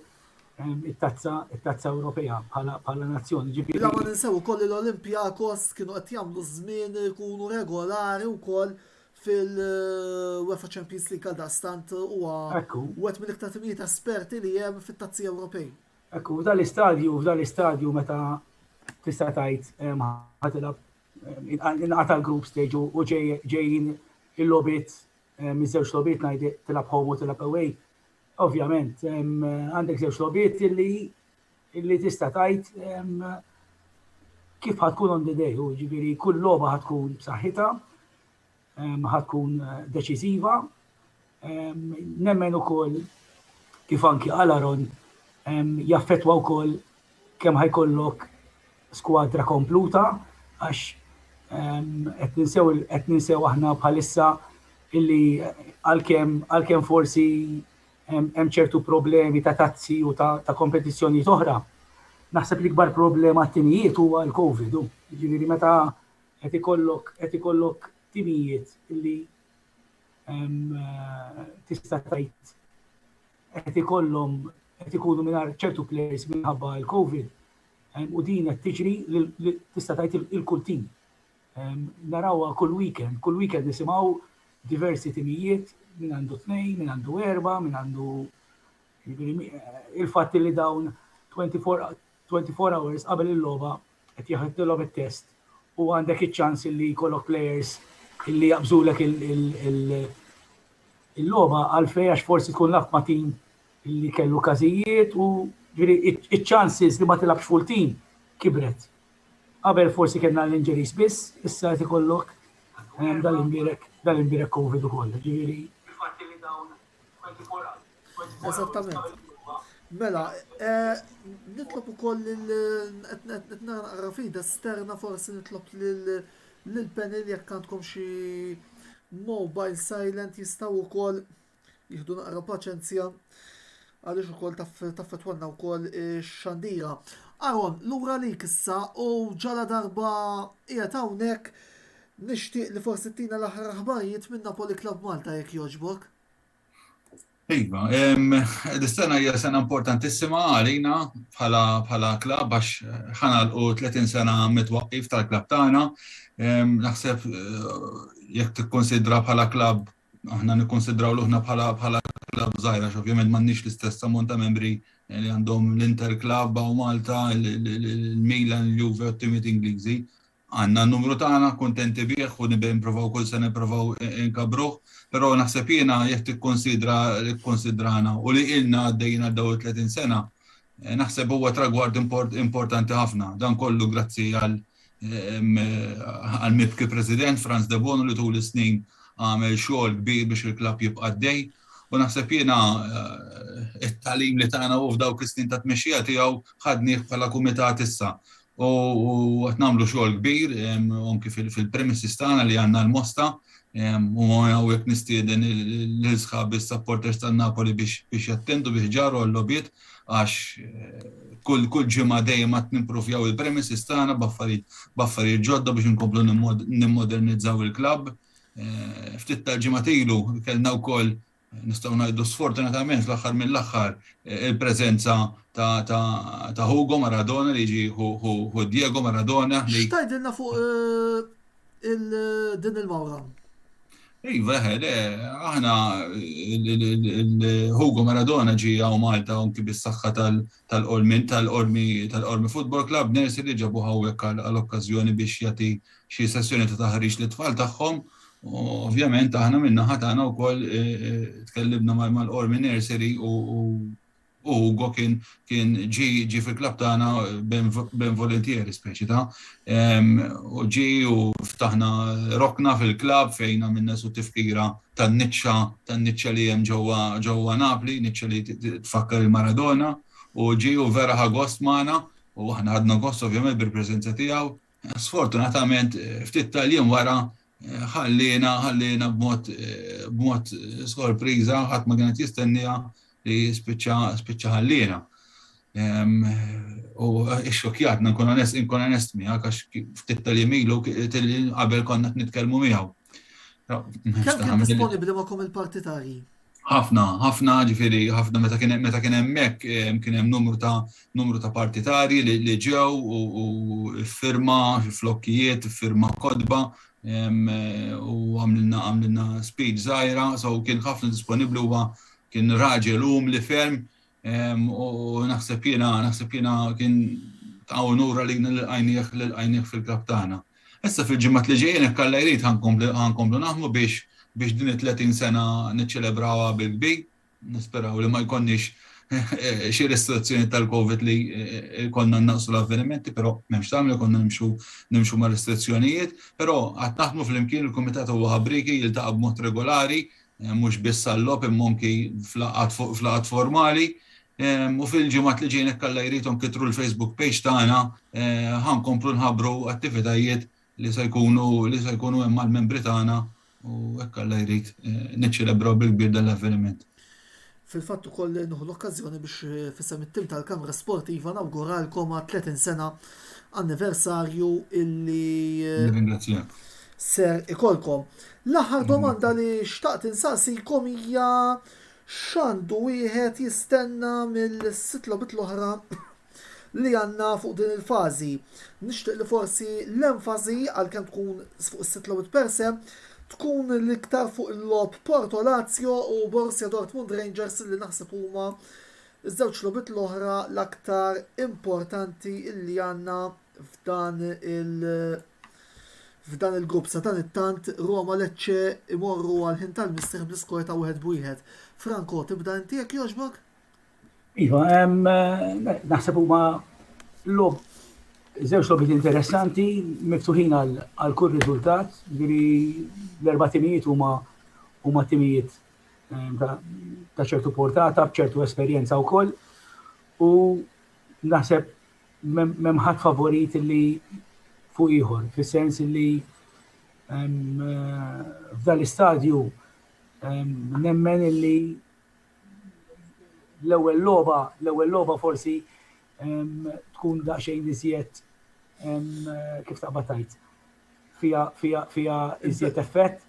it-tazza it-tazza Ewropea bħala nazzjoni. Ġifieri. La ma ninsew ukoll l-Olympiakos kienu qed jagħmlu żmien ikunu regolari wkoll fil-UEFA Champions League għal dastant huwa wet mill-iktar timijiet esperti li hemm fit-tazzi Ewropej. Ekku, f'dan l-istadju, f'dan l-istadju meta tista' tgħid ħatilab inqata' l-group stage u ġejjin il-lobit miż-żewġ lobit ngħid tilab home u tilab away. Ovvjament, għandek żewġ lobit illi tista' tgħid kif ħatkun on the day, jiġifieri kull logħba ħatkun b'saħħitha ħatkun deċiżiva. Nemmen ukoll kif anki għal Aron jaffettwa wkoll kemm ħajkollok skwadra kompluta għax qed ninsew qed ninsew aħna bħalissa illi għalkemm għalkemm forsi hemm ċertu problemi ta' tazzi u ta', ta kompetizzjonijiet oħra. Naħseb l-ikbar problema t-tinijiet huwa l-COVID. Ġifieri meta Qed ikollok qed ikollok timijiet li tista' tgħid qed ikollhom qed ikunu mingħajr ċertu players minħabba l-COVID u din qed tiġri li tista' tgħid il-kull tim. Narawha kull weekend, kull weekend nisimgħu diversi timijiet minn għandu tnejn, minn għandu erba, minn għandu il-fatt li dawn 24 24 hours qabel il-logħba qed jaħdtilhom it-test u għandek iċ-ċans illi jkollok players illi jaqbżulek il-logħba għalfejn għax forsi tkun laf ma' tim illi kellu każijiet u ġifieri iċ-chances li ma tilabx full team kibret. Qabel forsi kellna l-injuries biss, issa qed ikollok dal-imbirek dal-imbirek COVID ukoll, ġifieri. Il-fatt li dawn 24 hours Eżattament. Mela, eh, nitlob ukoll il-naqra fida sterna forsi nitlob l-panel jekk għandkom xi mobile silent jistaw ukoll jihdu naqra paċenzja għaliex ukoll taffetwanna wkoll xandira. Aron, lura li kissa u ġala darba qiegħed hawnhekk nixtieq li forsi tina l-aħħar aħbarijiet minn Napoli Club Malta jekk jogħġbok. Iva, dis-sena hija sena importantissima għalina bħala klabb għax ħanalqu 30 sena mit-twaqqif tal-klabb tagħna. Naħseb jekk tikkunsidra bħala klabb, aħna nikkunsidraw ruħna bħala klabb żgħira, għax ovvjament m'għandniex l-istess ammont ta' membri li għandhom l-Inter Club hawn Malta, il-Milan, il-Juve, it-timijiet Ingliżi. Għandna n-numru tagħna, kuntenti bih u nipprovaw kull sena nipprovaw inkabbruh, però naħseb jiena jekk tikkunsidra li kkunsidrana u li ilna għaddejjin għal dawn it-30 sena, naħseb huwa tragward importanti ħafna. Dan kollu grazzi għal għall-mibki President Frans Debono li tul is-snin għamel xogħol kbir biex il-klabb jibqa' għaddej u naħseb jiena t-tagħlim li tana hu f'dawk is-snin tat-tmexxija tiegħu ħadnih bħala kumitat issa u qed nagħmlu xogħol kbir anki fil-premises tagħna li għandna l-Mosta u hawnhekk nistieden l-isħab is-supporters tan-Napoli biex jattendu biex ġarru għall-logħbiet għax kull kull ġimgħa dejjem qed nimpruvjaw il-premises tagħna b'affarijiet ġodda biex inkomplu nimmodernizzaw il-klabb. Ftit tal-ġimgħat ilu kellna wkoll Nistgħu ngħidu sfortunatament fl-aħħar mill-aħħar il-preżenza ta' Hugo Maradona li jiġi hu Diego Maradona. X'tgħidilna fuq din il-mawra? Iva, eħe, aħna Hugo Maradona ġie hawn Malta anki bis-saħħa tal-Qormi tal-Qormi tal-Qormi Football Club Nersi li ġabuh hawnhekk għal okkażjoni biex jagħti xi sessjoni ta' taħriġ lit-tfal tagħhom. U ovvjament aħna min-naħa tagħna wkoll tkellimna mal-Qormi Nursery u u Ugo kien kien ġi ġi fil-klabb tagħna ben volentieri speċi ta' u ġi u ftaħna rokna fil-klabb fejn għamilna su tifkira tan-niċċa tan-niċċa li hemm ġewwa ġewwa Napli, niċċa li tfakkar il-Maradona, u ġie u vera ħa gost magħna u aħna ħadna gost ovvjament bil-preżenza tiegħu. Sfortunatament ftit tal-jiem wara ħalliena ħalliena b'mod b'mod sorpriża ħadd ma kien qed jistenniha li spiċċa spiċċa ħalliena. U xokjat, nkun onest, nkun onest miegħek għax ftit tal-jiem ilu qabel konna nitkellmu miegħu. Kemm kien disponibbli magħkom il-partitarji? ħafna, ħafna ġifiri, ħafna meta kien meta kien hemmhekk kien hemm numru ta' numru ta' partitari li ġew u firma flokkijiet, firma kodba u għamlilna għamlilna speed żgħira, so kien ħafna disponibbli huwa Kien raġel umli ferm u naħseb jiena naħseb jiena kien ta' unura li l-għajnieħ l-għajnieħ fil-kap tagħna. Issa fil-ġimgħat li ġejjin hekk Alla jrid ħankomplu naħmu biex biex din it-30 sena niċċelebrawha bil-kbir. Nisperaw li ma jkollniex eh, xi restrizzjoni tal-Covid li eh, konna naqsu l-avvenimenti, però m'hemmx tagħmel konna nimxu nimxu ma' restrizzjonijiet, però qatt naħdmu flimkien il-Kumitat huwa ħabriki jiltaqa' b'mod regolari mhux biss għal-logħob imma anki f'laqgħat formali, u fil-ġimgħat li ġejjin jekk Alla jrid u nkitru l-Facebook page tagħna ħa nkomplu nħabbru attivitajiet li se jkunu li se jkunu hemm għall-membri tagħna u jekk Alla jrid niċċelebraw bil-kbir dan l-avveniment. Fil-fatt ukoll nieħu l-okkażjoni biex f'isem it-tim tal-Kamra Sportiva nawguralkom għal 30 sena anniversarju illi Nirringrazzjak. ser ikolkom. L-aħħar domanda li xtaqt insaqsikom hija x'għandu wieħed jistenna mill-sitt logħbiet l-oħra li għandna fuq din il-fażi. Nixtieq li forsi l-enfasi, għalkemm tkun fuq is-sitt logħbiet per se, tkun l-iktar fuq il-logħob Porto Lazio u Borussia Dortmund Rangers li naħseb huma ż-żewġ logħbiet l-oħra l-aktar importanti li għandna f'dan il- f'dan il-grupp sa dan it-tant Roma Lecce imorru għal ħin tal-mistrieħ bl-iskor ta' wieħed b'wieħed. Franco, tibda inti jekk jogħġbok? Iva, naħseb huma lob żewġ lobbiet interessanti miftuħin għal kull riżultat, ġifieri l-erba' timijiet huma huma timijiet ehm, ta' ċertu portata, b'ċertu esperjenza wkoll. U naħseb m'hemm ħadd favorit li fuq ieħor, fis-sens li ehm, eh, f'dan l-istadju ehm, nemmen li l-ewwel logħba, l-ewwel logħba forsi tkun daqsxejn iżjed kif taqbad tajt. Fija fija fija iżjed effett,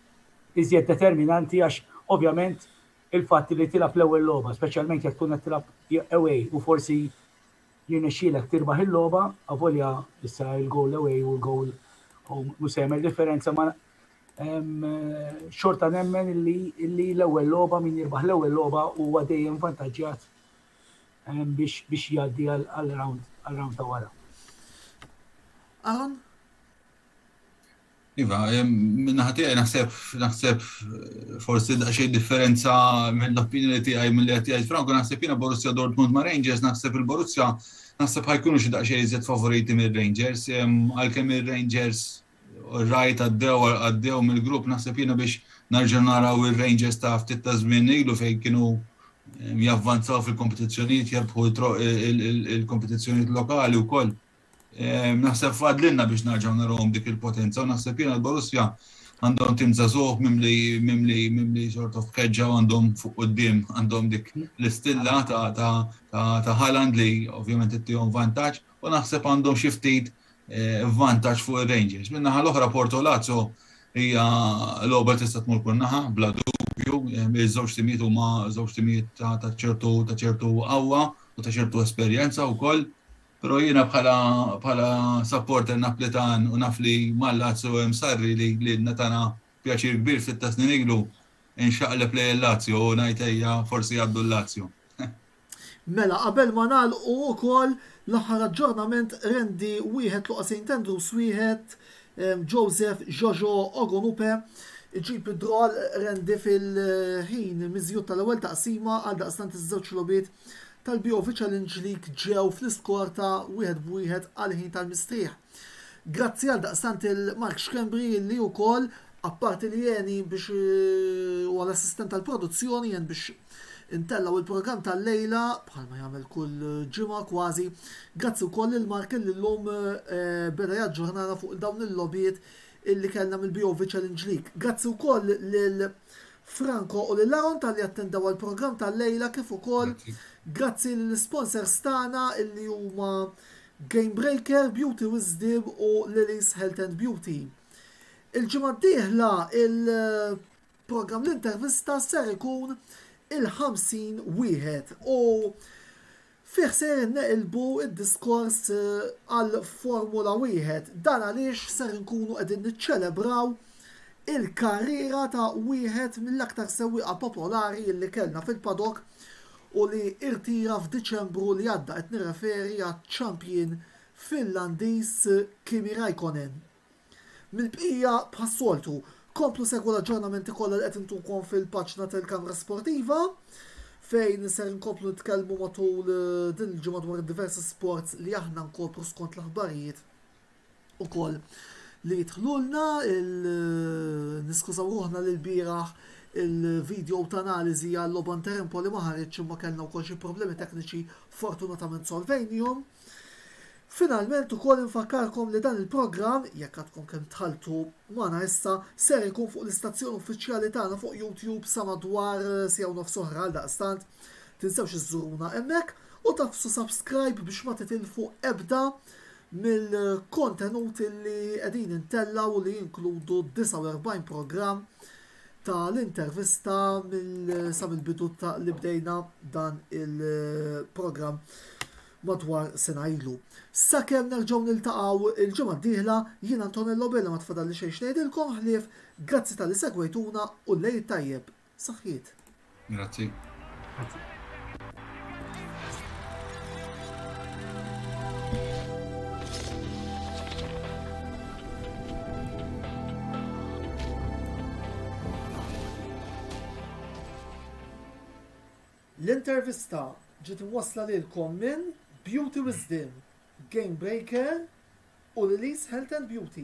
iżjed determinanti għax ovvjament il-fatt li tilab l-ewwel logħba, speċjalment jekk tkun qed tilab away u forsi jirnexxielek tirbaħ il-logħba, avolja issa il-goal away u l-goal home mhux se jagħmel differenza ma xorta nemmen illi l-ewwel logħba min jirbaħ l-ewwel logħba huwa dejjem vantaġġjat biex biex jgħaddi għal round għal round ta' wara. Aħon? Iva, minna ħati għaj naħseb, naħseb forsi xej differenza minn l-opinjoni ti għaj minn li għati għaj Franco, naħseb jina Borussia Dortmund ma' Rangers, naħseb il-Borussia, naħseb ħajkunu xie daqxej jizet favoriti minn Rangers, għal-kem il-Rangers Rajt għaddew għaddew mill-grupp naħseb jiena biex narġa' naraw ir-Rangers ta' ftit ta' żmien ilu fejn kienu javvanzaw fil-kompetizzjonijiet jarbħu il-kompetizzjonijiet lokali wkoll. Ehm, naħseb fadlinna biex narġaw narawhom dik il-potenza u naħseb jiena l-Borussia għandhom tim żagħżugħ mimli mimli mimli sort of keġġa għandhom fuq quddiem għandhom dik l-istilla ta' Haaland li ovvjament ittihom vantaġġ u naħseb għandhom xi ftit eh, vantaġġ fuq ir-Rangers. Min-naħa l-oħra Porto Lazio hija l-ogħba tista' tmur kull naħa bla dubju, eh, iż-żewġ timijiet huma żewġ timijiet ta' ċertu ta' ċertu qawwa u ta' ċertu esperjenza wkoll. Però jiena bħala bħala supporter Naplitan u naf li mal-Lazio hemm sarri li li natana pjaċir kbir fit-tasnin ilu inxaqleb lej il-Lazio u ngħid forsi għaddu l-Lazio. Mela qabel ma nagħlqu ukoll l-aħħar aġġornament rendi wieħed Luqa Saint Andrews wieħed Joseph Jojo Ogunupe iġib id-draw rendi fil-ħin miżjud tal-ewwel taqsima għaldaqstant iż-żewġ logħbiet tal-BOV Challenge League ġew fl-iskor ta' wieħed b'wieħed għall-ħin tal-mistrieħ. Grazzi għaldaqstant il Mark Schembri li wkoll apparti li jeni biex eh, u l-assistent tal-produzzjoni jen biex intellaw il-programm tal-lejla bħalma jagħmel kull ġimgħa kważi. Grazzi wkoll il Mark li llum eh, beda jaġġornana fuq dawn il-lobijiet illi kellna mill-BOV Challenge League. Grazzi wkoll lil Franco u lil Aaron tal-li attendaw għal-programm tal-lejla kif ukoll grazzi l-sponsors tagħna illi huma Gamebreaker, Beauty Wisdom u Lily's Health and Beauty. Il-ġimgħa d-dieħla il-programm l-intervista ser ikun il-50 wieħed u fih se neqilbu id-diskors eh, għal Formula wieħed. Dan għaliex ser nkunu qegħdin niċċelebraw il-karriera ta' wieħed mill-aktar sewwieqa popolari li kellna fil-padok u li rtira f'Diċembru li għadda, qed nirreferi għaċ-champion Finlandiż Kimi Raikkonen. Mill-bqija, bħas-soltu, komplu segwu l-aġġornamenti kollha li qed intukom fil-paġna tal-Kamra Sportiva, fejn ser inkomplu nitkellmu matul din il-ġimgħa dwar id-diversi sports li aħna nkopru skont l-aħbarijiet ukoll li jidħlulna il niskużaw ruħna li lbieraħ il video ta' analiżi għal logħba inter Empoli ma ħaritx imma kellna wkoll xi problemi tekniċi fortunatament solvejnihom. Finalment ukoll infakkarkom li dan il-programm, jekk għadkom kemm tħalltu magħna issa, ser ikun fuq l-istazzjon uffiċjali tagħna fuq YouTube sa madwar sija u nofs oħra għal daqstant tinsewx iżżuruna hemmhekk u tafsu subscribe biex ma titilfu ebda mill-kontenuti li qegħdin intellgħu u li jinkludu 49 programm ta' l-intervista mill sa mill-bidu ta' li bdejna dan il-programm madwar sena ilu. Sakemm nerġgħu niltaqgħu il-ġimgħa d-dieħla, jiena Antonello Bela ma tfadalli xejn x'ngħidilkom ħlief grazzi talli segwejtuna u l-Għid tajjeb! Saħħiet. Grazzi. Grazzi. L-intervista ġiet wasla lilkom minn Beauty Wisdom, Game Breaker u Lilies Health and Beauty.